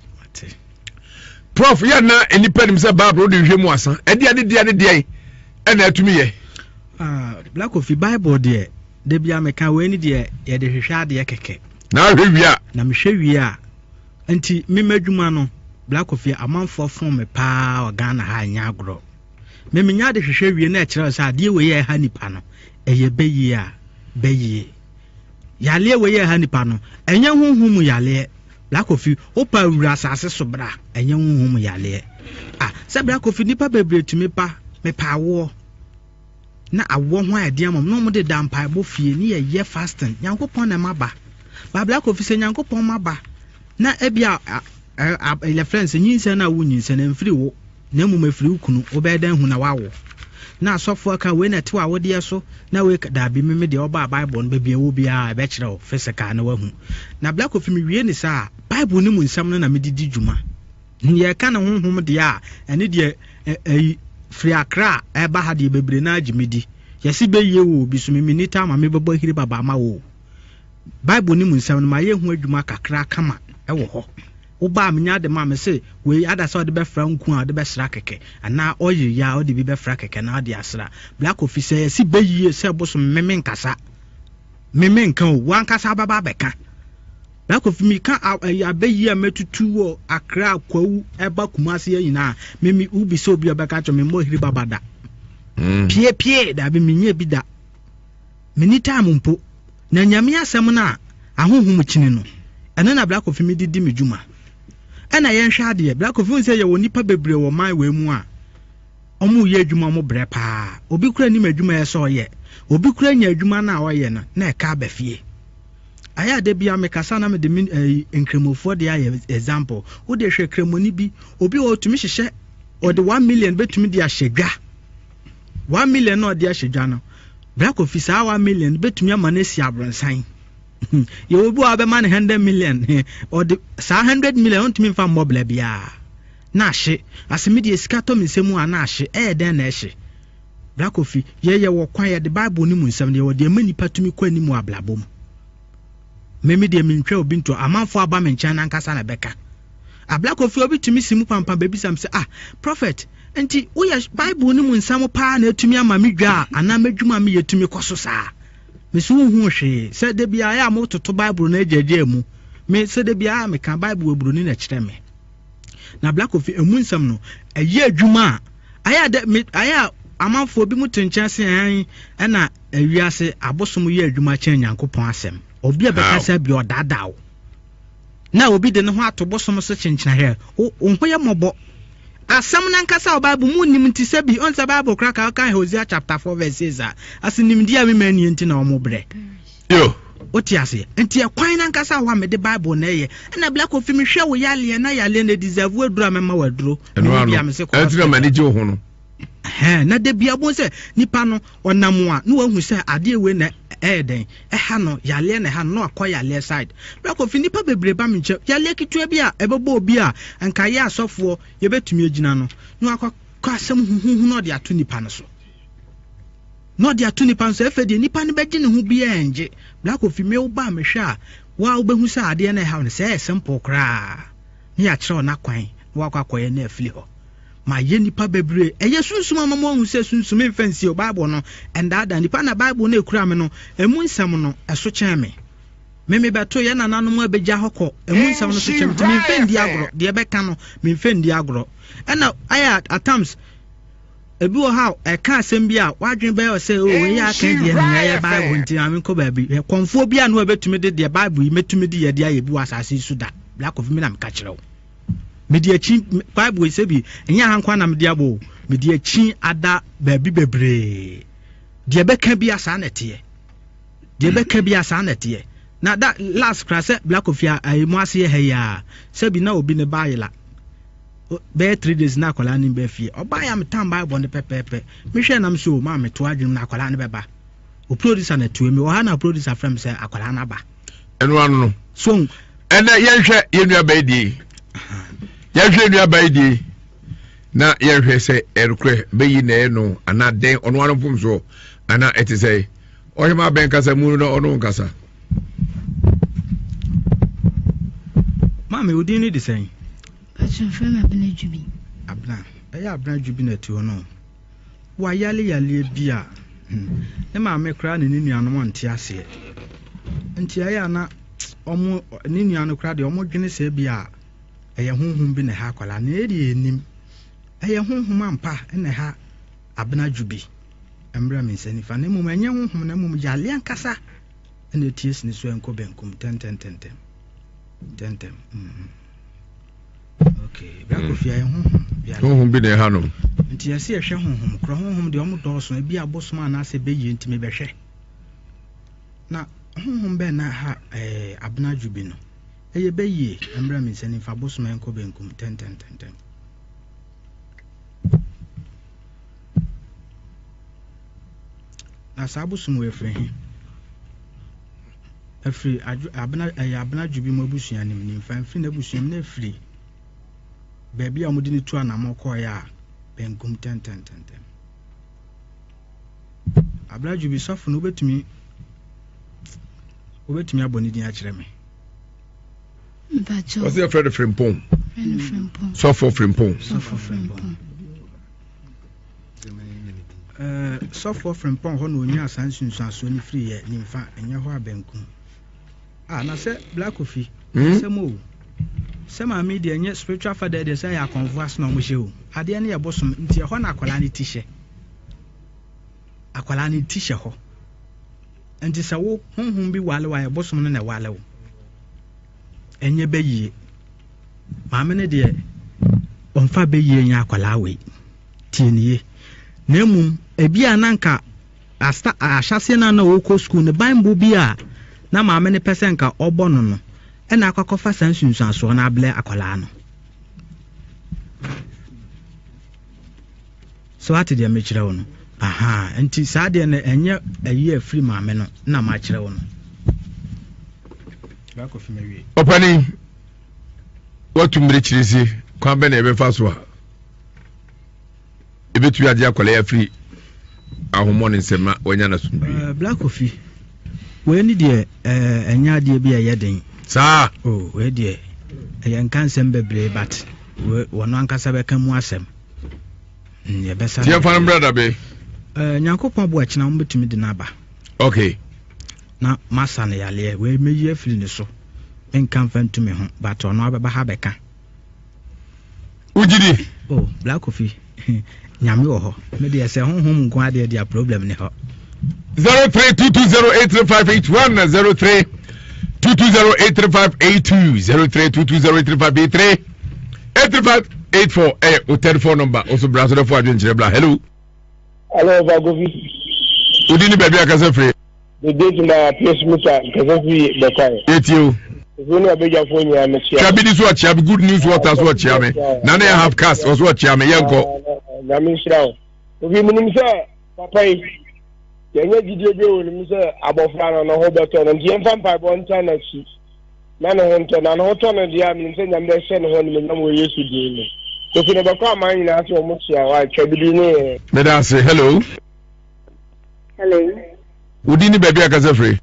[SPEAKER 1] prof yɛ na nnipa nim sɛ bible wode nhwɛ mu asa ɛdeɛ ne deɛ ne deɛ ɛna atumi yɛ ah,
[SPEAKER 2] black coffee bible deɛ Da biara meka wei ne deɛ
[SPEAKER 1] yɛde
[SPEAKER 2] hwehwɛ adeɛ kɛkɛ. Na ahwɛ wie a.
[SPEAKER 1] Na
[SPEAKER 2] mehwɛ wie a.
[SPEAKER 7] Nti me m'adwuma no Bla Koffi amanfoɔ fom me paa wɔ Ghana ha nyɛ agorɔ. Me menya de hwehwɛ wie na ɛkyerɛ sɛ adeɛ wei a ɛha nipa no ɛyɛ bɛyie a bɛyie. Yaleɛ wei a ɛha nipa no ɛnyɛ honhom mu yaleɛ. Bla Koffi wo paa wura asase so bra ɛnyɛ honhom mu yaleɛ. Ah sɛ Bla Koffi nipa bebree tumi pa mepaawoɔ. na awɔ ho a ɛde ama na wɔn de da mpaebɔ fie ne yɛ yɛ fasting nyankopɔn na ɛma ba baabla kofi sɛ nyankopɔn ma ba na ebi a yɛ friends nyinsɛn na wo nyinsɛn ɛmfiri wo na mmom ɛfiri wo kunu wobɛyɛ dɛn hu na wawo na asɔfo aka wei na ɛte wɔ awodeɛ so na wei daabi meme deɛ ɔbaa bible no baabi ɛwɔ biara ɛbɛkyerɛ wo physical na wahu na black ofi mewie ne saa bible no mu nsɛm no na mede di dwuma Deɛ ɛka ne honhom deɛ a, ɛne deɛ ɛyi firi akra a ɛba ha deɛ bebree no ara gye me di. Yɛse bɛyie o, bi so me menni ta ma mebɛbɔ ahiri baba ama wo o. Bible no mu nsɛm no, mayɛ ho adwuma kakra kama wɔ hɔ. Wo ba a menya de ma, mese wei ada sɛ ɔde bɛfra nku a ɔde bɛsra kɛkɛ, anaa ɔyere yi a ɔde bi bɛfra kɛkɛ na ɔde asra. Black Coffee sɛ yɛse bɛyie sɛ bosom me menkasa, me menka o, wo ankasa wobɛba abɛka. Na Kofi me ka a ɛyɛ abɛ yi a mɛ tutu wɔ Accra Kwawu ɛba Kumasi yɛ nyinaa me me wo bi sɛ obi ɔbɛ ka kyɛ me mmɔ hiri baba da mm. pie pie dabi me nyɛ bi da me ni time mpo na nyame asɛm na ahohom kyini no ɛno na Black Kofi me di di me dwuma ɛna yɛnhwɛ adeɛ Black Kofi nsɛ yɛ wɔ nipa bebree wɔ man wɔ emu a Ɔmo yɛ adwuma ɔmo brɛ paa obi koraa nim adwuma ɛyɛ sɛ ɔyɛ obi koraa nya adwuma no a ɔyɛ no na ɛka aba fie ayɛ a dabia me kasa na mede me ɛyi nkramofoɔ de ayɛ example wo de hwɛ kramoni bi obi wɔ ɔtumi hyehyɛ ɔde one million bɛtumi de ahyɛ dwa one million na ɔde ahyɛ dwa no bra kofi saa one million bɛtumi ama no asi abronsan yɛwɔ bi wɔ abɛma no hundred million ɔde saa hundred million ɔntumi nfa mmɔ bla biara Na ahye, ase me deɛ sika tɔ me nsam o a na ahye, ɛyɛ dɛn na ɛhye? Bra Kofi, yɛn yɛwɔ kwan, yɛde Bible no mu nsɛm no, yɛwɔ deɛ ɛma nnipa tumi kɔ anim wɔ abrabɔ mu. Me me deɛ mentwa obi ntoa, amanfoɔ aba me nkyɛn no ankasa na ɛbɛka. Ah, Bra Kofi, obi tumi si mu pampan bɛbisa me sɛ, ah, Prophet, nti woyɛ Bible no mu nsɛm paa na atumi ama me dwa a anaa m'adwuma a meyɛ tumi kɔ so saa? Me se wonhuu hwee, sɛ da biara ɛyɛ a mototo Bible no agyaagyaa mu, me sɛ da biara meka Bible wɔ Buroni na ɛkyerɛ me. Na Black Coffee ɛmu nsɛm no ɛyɛ adwuma a ayɛ a dɛ me ayɛ a amanfoɔ bi mu te nkyɛn se ɛn ɛna ɛwiase abosom yɛ adwuma kyɛn Nyankopɔn asɛm. Obi a bɛka saa bi ɔdaadaa wo na obi de ne ho ato bosom so kyenkyena hwɛ wo wo ho yɛ mmɔbɔ. Asɛm no ankasa wɔ Bible mu nnim nti sɛ bi ɔn sɛ Bible koraa ka ɔka Hosea chapter 4 verse 6 a ɔse nimdeɛ a me mma nnie nti na wɔn brɛ. Yo!
[SPEAKER 1] Wote aseɛ?
[SPEAKER 7] Nti ɛkwan no ankasa wɔ hɔ a mede Bible na ɛyɛ. Ɛna Black Coffee mehwɛ wo yaleɛ na yaleɛ no ɛdeserve aduro a mɛma wo aduro. Ɛno ano. Ɛno nti na m'ani gye wo ho no.
[SPEAKER 1] Ɛhɛn, na da
[SPEAKER 7] bia wobɛhu sɛ nipa no ɔnam a na wahu sɛ adeɛ wei na ɛyɛ dɛn, ɛha no, yaleɛ na ɛha no na wakɔ yaleɛ side. Black Coffee nipa bebree ba me nkyɛn, yaleɛ ketewa bi a ɛbɛbɔ obi a nka yɛ asɔfoɔ yɛbɛtumi agyina no, na wakɔ kɔ asɛm huhuuhu na ɔde ato nipa no so. Na ɔde ato nipa nso ɛfɛ deɛ nipa no bɛgye ne ho biaa ngye black ofi me wo ba a me hwɛ a wo a wo bɛhu sɛ adeɛ no ɛhaw no sɛ ɛyɛ simple koraa ne yɛ akyerɛ wo no akwan na wakɔ akɔyɛ na afili hɔ ma yɛ nipa bɛbree ɛyɛ sunsum ama mo ahu sɛ sunsum mfa nsie o bible no ɛndaadaa nipa na bible no ɛkura me no ɛmu nsɛm no ɛso kyɛn me me me bɛto yɛ nananom a bɛgya hɔ kɔ ɛmu nsɛm no so kyɛn me nti memfɛ ndi agorɔ deɛ bɛka no memfɛ ndi agorɔ ɛna ayɛ at times Ebi wɔ hɔ a, ɛka asɛm bi a, w'adwene bɛyɛ wo sɛ, o, wei a aka deɛ no, nyɛ yɛ Bible nti maame nkɔ baabi. Hwɛ, kɔmfoɔ bi a no ɛbɛtumi de deɛ Bible yi mɛtumi de yɛ de ayɛ bi wɔ asase yi so da. Black of me na meka kyerɛ wo. Mede akyi, Bible yi sɛ bi, ɛnyɛ aha nkoa na mede abɔ o. Mede akyi ada baabi bebree. Deɛ bɛka bi a saa na ɛteɛ. Deɛ bɛka bi a saa na ɛteɛ. Na da last kora sɛ Black of a, a, mu ase yɛ ha yi a, sɛ bi na obi ne ba ayela. bɛyɛ three days na akwadaa no bɛ fie ɔbaa yɛ a metan bible no pɛpɛɛpɛ mehwɛ nam sɛ o maa meto adwenem na akwadaa no bɛba o producer na tue mi ɔha na producer frɛ me sɛ akwadaa no aba ɛno ano no
[SPEAKER 1] so ɛnɛ
[SPEAKER 7] yɛnhwɛ
[SPEAKER 1] yɛn nua bɛyɛ die yɛnhwɛ yɛn nua bɛyɛ die na yɛnhwɛ sɛ ɛnokorɛ bɛyi na ɛyɛ no anaa dɛn ɔno ano mfom soɔ anaa ɛte sɛ ɔhwɛ ma abɛn kasa mu no ɔno nkasa
[SPEAKER 7] maame odin no de sɛn Patsɔ
[SPEAKER 4] frɛ me Abena Dwubi.
[SPEAKER 7] Abena, ɛyɛ Abena Dwubi na ɛte hɔ no o. Wayale yaleɛ bi a, hmm, ne maame koraa ne ne nuanom ante aseɛ. Nti ɛyɛ a na ɔmo, ne nua no koraa deɛ ɔmo dwene sɛ bi a ɛyɛ honhom bi na ɛha akwadaa no. Yɛn deɛ yɛnnim. Ɛyɛ honhom ampa na ɛha Abena Dwubi. Ɛmmerɛ me nsa nifa. Na mmom ɛnyɛ honhom na mmom yaleɛ ankasa na ɛte asi ne so ɛnkɔ benkum. Tɛntɛntɛntɛm. Tɛntɛm. Mm-hmm. honhom bi na ɛha nom
[SPEAKER 1] nti ɛsɛ yɛhwɛ
[SPEAKER 7] honhom korɔ honhom deɛ ɔmo dɔɔso ebi abosom anaasɛ bɛyie nti mebɛhwɛ na honhom bɛn na ɛha eh, abena adwo bi no ɛyɛ bɛyie mmerɛ me nsa nifa abosom ɛnkɔ bɛnkum tɛntɛntɛntɛn na saa abosom wɔ ɛfiri he afiri adwo, abena, ɛyɛ abenadwo bi mu abusua no mu, nimfa mfiri n'abusua mu na afiri baabi a wɔde no tu anamɔ kɔɔeɛ a, benkum tɛntɛntɛntɛm. Abenadwo bi sɔfo no wobɛtumi wobɛtumi abɔ ne din akyerɛ me.
[SPEAKER 1] Wɔsɛ yɛfrɛ no frimpong. Sɔfo frimpong. Sɔfo frimpong.
[SPEAKER 7] Sɔfoɔ Frimpong hɔ na ɔnyaa saa nsunsuansoɔ no firi yɛ nimfa ɛnyɛ hɔ a benkum a na sɛ Black Kofi hmm? sɛm o sɛ maame deɛ ɛnyɛ spiritual father deɛ sɛ ɛyɛ akɔnfo ase na wɔhyɛ o adeɛ no yɛ bosom nti ɛhɔ na akwadaa no ti hyɛ akwadaa no ti hyɛ hɔ nti sɛ wo honhom bi wale wa yɛ bosom no na ɛwale wo ɛnyɛ bɛyie maame no deɛ ɔmfa bɛyie nyɛ akwadaa wei tie ne yie na mmom ebi a na nka asta ahyɛseɛ no a na ɔrekɔ sukuu no bible bi a na maame no pɛ sɛ nka ɔbɔ no no ɛna akɔkɔfa saa nsunsuansoɔ no abrɛ akwadaa no So woate deɛ mekyerɛ wo no? Ahaa, nti saa deɛ no ɛnyɛ ayi a ɛfiri maame no na makyerɛ wo no. Ɔpani,
[SPEAKER 1] watu mmirekyiri se kwan bɛ na yɛbɛfa so a ɛbɛtumi agye akwadaa yi afiri ahommɔ ne nsɛm na wanya no asomdwe. Eh, Black Kofi,
[SPEAKER 7] wei ne deɛ eh, ɛnyɛ adeɛ bi a ɛyɛ den. Saa? Oh,
[SPEAKER 1] wei
[SPEAKER 7] deɛ ɛyɛ nka nsɛm bebree but wɔno ankasa bɛka mu asɛm. tiɛ fa no mmerɛ da be
[SPEAKER 1] eh, nyankopɔn
[SPEAKER 7] boa kyena wobɛtumi de no aba ok
[SPEAKER 1] na
[SPEAKER 7] masa no yaleɛ wei mɛyi afiri ne so menka mfa ntumi ho but ɔno abɛba ha bɛka wogyidi
[SPEAKER 1] o oh, black coffee
[SPEAKER 7] nyame wɔ hɔ medeɛ sɛ honhom nko adeɛ deɛ problem ne hɔ 0322083581
[SPEAKER 1] na 03 22083582 03 22083583 eight three five eight four ɛyɛ o third four number o so bra so dɛ fo adwenkyerɛ bra hello. hello ọba
[SPEAKER 8] gobi. o
[SPEAKER 1] di ni bẹẹbi akasa firi. dede tuma
[SPEAKER 8] piesu mi ta nkasa firi bẹkwa yẹ. yẹ tie o. ìfún
[SPEAKER 1] ní abẹ́jà
[SPEAKER 8] fún nyina mi kyia. kyia bi ni so ọkyia mi good news
[SPEAKER 1] water so ọkyia mi na ne yẹ half cast ọsọ ọkyia mi yẹ nkọ. nyame nhyira o
[SPEAKER 8] obi mu nim sɛ papa yi yɛnyɛ gyidie bi wɔ ne mu sɛ abɔfra no ne ho bɛtɔ no nti yɛmfa mpaebɔ nta n'akyi na ne ho ntɔ no, a ne ho tɔ no deɛ a, menim sɛ Nyame bɛhyɛ ne ho animuonyam wɔ Yesu din mu. Kofi no bɛkɔ aman nyinaa sɛ wɔn hyia hɔ a, twa bi din ne yɛn. Meda ase. Hello.
[SPEAKER 1] Hello. Wo din ne baabi a kasa firi?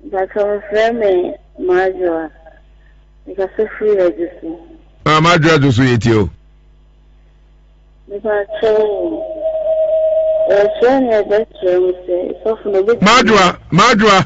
[SPEAKER 1] Mpatsɔ wɔfrɛ me
[SPEAKER 9] Madwoa. Mekasa firi Adwosu. Ah, Madwoa Adwosu
[SPEAKER 1] yɛ tie o.
[SPEAKER 9] Mpatsɔ
[SPEAKER 1] wɔfrɛ me ɛbɛkyerɛ me sɛ sɔfo no bɛtumi. Madwoa, Madwoa.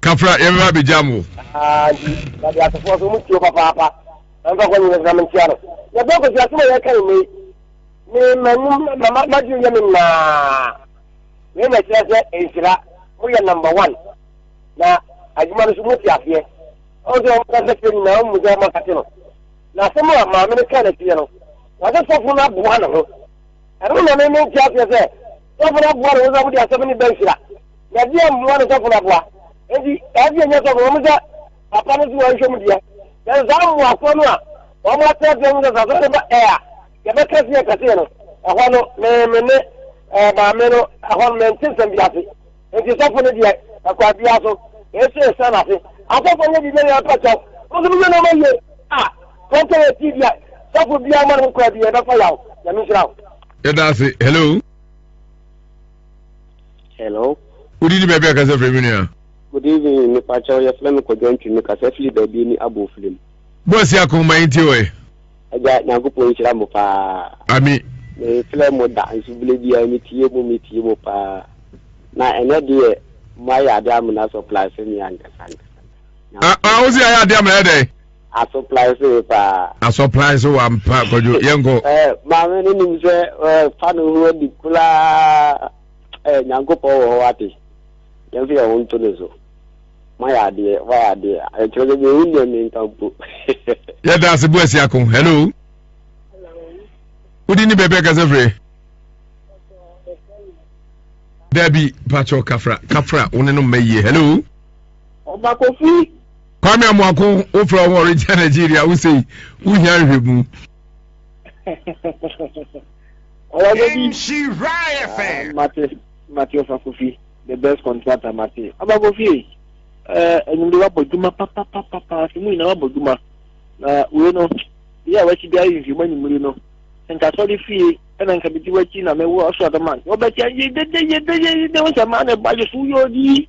[SPEAKER 1] kafra yɛbɛba abɛgyam wo
[SPEAKER 8] bade asefoɔ so mu tuo papaapa ɛmfa kɔ nyina gyina mentia no yɛbɔ kɔsi asom a yɛka nnɛ yi me manim madwene yɛ me naa wei na kyerɛ sɛ nhyira moyɛ number one na adwuma no so mote aseɛ ɔmo sɛ ɔmo kasa kyerɛ nyinaa ɔmo mu sɛ ɔmo akate no na asɛm a maame no kaa n'akyiɛ no wɔde sɔfo no aboa ne ho ɛno na me mentia aseɛ sɛ Sɔfo no aboa no, Wosɔfo de asɛm no ba nhyira, na ɛdeɛn mmoa na sɔfo no aboa? Enti, saa fie nyɛ sɔfo, ɛwom sɛ papa no nso wɔnhwɛ mu deɛ, nanso saa mmoafoɔ no a wɔatena ase ahu sɛ sɛ asɔre no ba ɛ a, yɛbɛka se yɛka seɛ no, ɛhɔ no, me, me ne ɛɛ maame no, ɛhɔ no, mente nsɛm bi ase. Enti sɔfo no deɛ, ɛkwan biara so, ɛsɛ ɛsan n'ase. Asɔfo nyɛ biribi nyɛ mpa kyɛw, mo nso mo yɛ nneɛma yie a, 2018 deɛ, sɔfo biara mma no ho kwan bi, ɛbɛfa yaw. Nyame nhyira wo. yɛda
[SPEAKER 1] ase hello
[SPEAKER 10] hello wodi ni baabi
[SPEAKER 1] akasa firi mi nua good evening
[SPEAKER 10] mepa kyɛw yɛfrɛ me kɔdwa ntwi mekasa firi baabi ni abɔ ofiri mu bɔsi akoma
[SPEAKER 1] yi nti ɔɛ agya nyankopɔn
[SPEAKER 10] nhyira mo paa ami
[SPEAKER 1] mefrɛ mo
[SPEAKER 10] da nso bere biara metie mu metie mu paa na ɛnɛ deɛ moayɛ ade amena sɔ plasɛ me ankasa ankasa ah, ah, wosi ayɛ ade
[SPEAKER 1] amena yɛ dɛn Asoply so
[SPEAKER 10] ye paa. Asoply so
[SPEAKER 1] wampa kwadwo yɛnkɔ. Eh, maame no nim
[SPEAKER 10] sɛ eh, fa no ho adi koraa eh, nyankopɔn wɔ hɔ ate yɛmfa yɛn ho nto ne so mayɛ adeɛ wayɛ adeɛ ɛkyerɛ sɛ deɛ wonni ɛme nka mpo yɛda
[SPEAKER 1] ase bo asi ako hello wodi ne baabi akasɛ frɛ dabi pakyɛ kafra kafra wo ne no mma yie hello Ɔba
[SPEAKER 5] Kofi. Kwame Amoako
[SPEAKER 1] wofrɛ wo Orange Nigeria wo sei wohia nhwɛmu.
[SPEAKER 5] Ɔba Kofi. Nhyira FM. Mate mate ɔfa Kofi the best contractor mate. Ɔba Kofi ee. Enyimde wabɔ dwuma papapapa afi mu nyinaa wabɔ dwuma. Na wei no yɛ a wakyi biara nhwɛ mu anyimire no. Nka sɔre fie ɛna nka medi wakyi na mewɔ so adama. Wɔbɛkyɛ yedede yedede yedede wo sɛ maa ne ba yɛ so yɛ odi.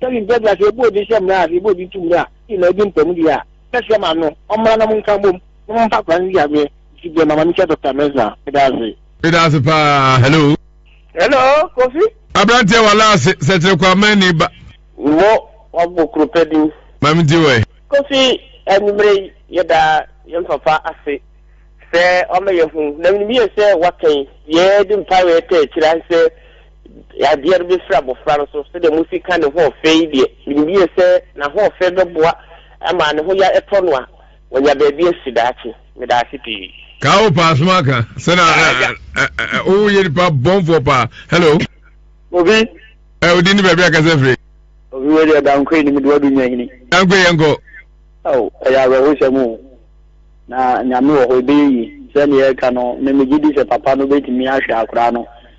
[SPEAKER 5] Sɛbi mpɛ bla sɛ ebu odin hyɛ mmra a sɛ ebu odin tu mmra a ii na edi mpamu deɛ a mɛ srɛ ma no ɔmmra na mo nka mbom na mo mfa akwadaa no nsi aseɛ nti deɛ mama no kyɛ Doctor Mensah meda ase. Meda ase paa hello.
[SPEAKER 1] Hello
[SPEAKER 5] Kofi. Abranteɛ
[SPEAKER 1] wala ase sɛ kyerɛ kwa mɛ ni ba. Mmɔ
[SPEAKER 10] wabɔ kuro pɛ din. Maame nti wɔ ɛ.
[SPEAKER 1] Kofi
[SPEAKER 10] anwummerɛ yi yɛda yɛn papa ase sɛ wama yɛahu na menim yie sɛ woaka yi deɛ yɛde mpaeɛ taa kyerɛ ahe sɛ Yadeɛ no bɛfiri abɔfra no so. Sɛdeɛ Mose ka ne ho ɔfɛ yi deɛ, menim yie sɛ n'ahoɔfɛ bɛboa ma ne ho ya tɔ no a wanya baabi asi daakye. Meda ase pii. Kaa wo paa soma
[SPEAKER 1] ka sɛ na wo yɛ nipa bɔnfoɔ paa hello. Obi.
[SPEAKER 10] Ɛ odin ne
[SPEAKER 1] baabi a kasa firi. Obi wei deɛ
[SPEAKER 10] dankoe ne mede wadu nyahini. Dankoe yɛn kɔ.
[SPEAKER 1] Ao ɛyɛ
[SPEAKER 10] awerɛhosɛm o na nyame wɔ hɔ ɛbɛyɛ yie sɛdeɛ ɛka no me megye di sɛ papa no bɛtumi ahwɛ akoraa no.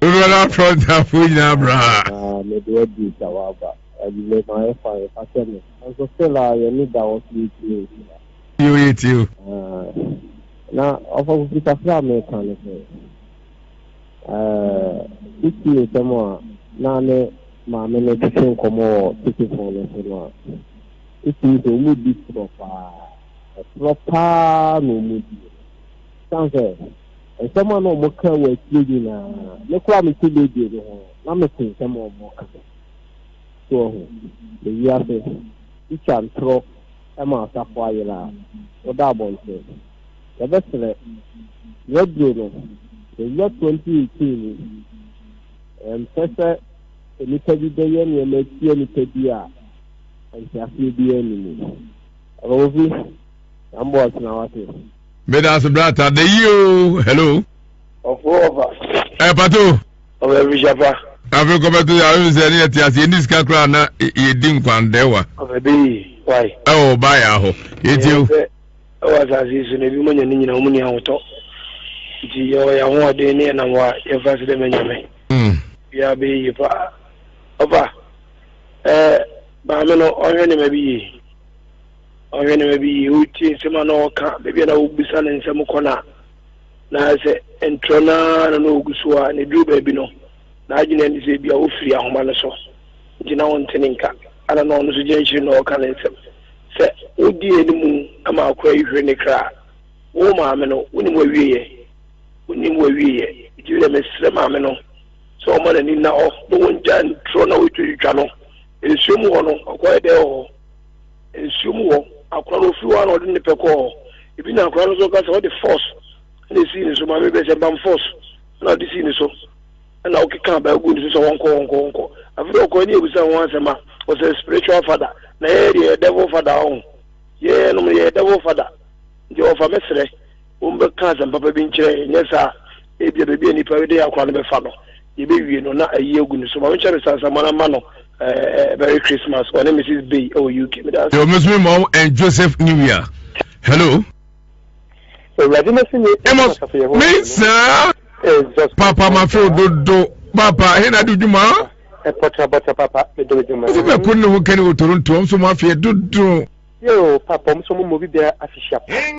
[SPEAKER 10] Dodoɔ no ara
[SPEAKER 1] Frontafo nyinaa bra. Na me de abuse a
[SPEAKER 10] waba. Anwummerɛ mayɛ fine fa kyɛ me. Nanso still a yɛne da hɔ so yɛtumi nhyia. Yoo yɛ
[SPEAKER 1] tie o. Aah
[SPEAKER 10] na ɔfɔfo fi kakra a meka no sɛ eh wo tie nsɛm a na ne maame no twetwe nkɔmmɔ wɔ tetefon no so no a wo tie sɛ ɔmu di torɔ paa torɔ paa na ɔmu die san sɛ Nsɛm a na wɔka wɔ akyire nyinaa, me koraa mete radio no ho na mete nsɛm a wɔka. So wahu? Yɛ wiase. Tikya ntorɔ ma asafo ayera a, woda abɔnten. Yɛbɛsrɛ, yɛaduro no, yɛnya 2018 mu. Yɛmpɛ sɛ nnipa bi bɛyɛ nneɛma atia nnipa bi a nteaseɛ biara nni mu. Rosie, yɛn boss na wate. meda ase
[SPEAKER 1] brata da yie o hello ɔfo ɔfa
[SPEAKER 10] ɛ pato
[SPEAKER 1] ɔbɛ bi
[SPEAKER 10] hyapa afei kɔbɛto yɛ
[SPEAKER 1] ayɛ sɛ ne yɛte ase yɛni sika koraa na yɛdi nkwandɛwa ɔbɛ
[SPEAKER 10] bi wai ɛwɔ ba yɛ ahɔ
[SPEAKER 1] yɛtie o ɛwɔ asase
[SPEAKER 10] so na ebi mo nya ne nyina wɔn ni ahotɔ nti yɛwɔ yɛ ahoɔden ne yɛnam hɔ a yɛmfa ase dɛ mɛnyame mm. biara bɛyɛ yie paa ɔfa ɛɛ maame no ɔhwɛ nneɛma bi yie Ɔhenemba bi yie, otsie nsɛm a nna ɔka, beebi a nna wobisa no nsɛm kɔ no a, na ayɛ sɛ ntorɔ no ara na nna ogu so a, na edur beebi no, n'adwen yɛ ne sɛ bi a ofir ahoma no so ntsi na ɔnntse ne nka. Ana nna ɔno so gyina ekyir na ɔreka ne nsɛm? Sɛ wodzi hɛn mu ma akora yi hwer ne kra a, wo maame no, wonyim w'ewieyɛ? Wonyim w'ewieyɛ? Ntsi ndɛ meserɛ maame no sɛ ɔmma n'ani nna hɔ na wongyaa ntorɔ na otwitwatwa no. Esua
[SPEAKER 8] mu hɔ no, ɔkɔyɛ dɛ wɔ hɔ. nsuo mu hɔ, akora no ɔfiri hɔ a na ɔde ne pɛ kɔɔ hɔ, ebi na akora no nso ɔka sɛ ɔde force na ɛsii ne so, maame bɛ sɛ bam force na ɔde sii ne so na ɔkeka baa gu ne so sɛ wɔnkɔ wɔnkɔ wɔnkɔ afei ɔkɔ ne ɛbusa ho asɛm a ɔsɛ spiritual father na yɛyɛ deɛ yɛ devil father ɔho yɛyɛ nom yɛyɛ devil father nti ɔfa me serɛ Wɔbɛka asɛm papa bi nkyerɛ yɛn, nyɛ saa a, ebia baabi a nnipa de yɛn akora no bɛfa no, yebewie no na ayi agu ne so. Maame Charisse Ansah, Mona mma no eh, Merry Christmas, ɔne Mrs. Bay wɔ UK. Meda ase. Yo, Miss me mom
[SPEAKER 1] and Joseph New Year. Hello. Awurade na si yɛ ɛmɔ asafo yɛ hɔ. Me saa. Papa ma feel dodo. Papa, he na do dwuma. Ɛpɔtra bɔtra papa,
[SPEAKER 11] me do dwuma. Ɔsɛ bɛ kun ne ho kani wɔ
[SPEAKER 1] Toronto, ɔm so
[SPEAKER 11] mo afeɛ dodo. Yo, papa,
[SPEAKER 1] ɔm so
[SPEAKER 11] mo mo
[SPEAKER 1] bi
[SPEAKER 11] bia
[SPEAKER 1] afehyia
[SPEAKER 11] pa.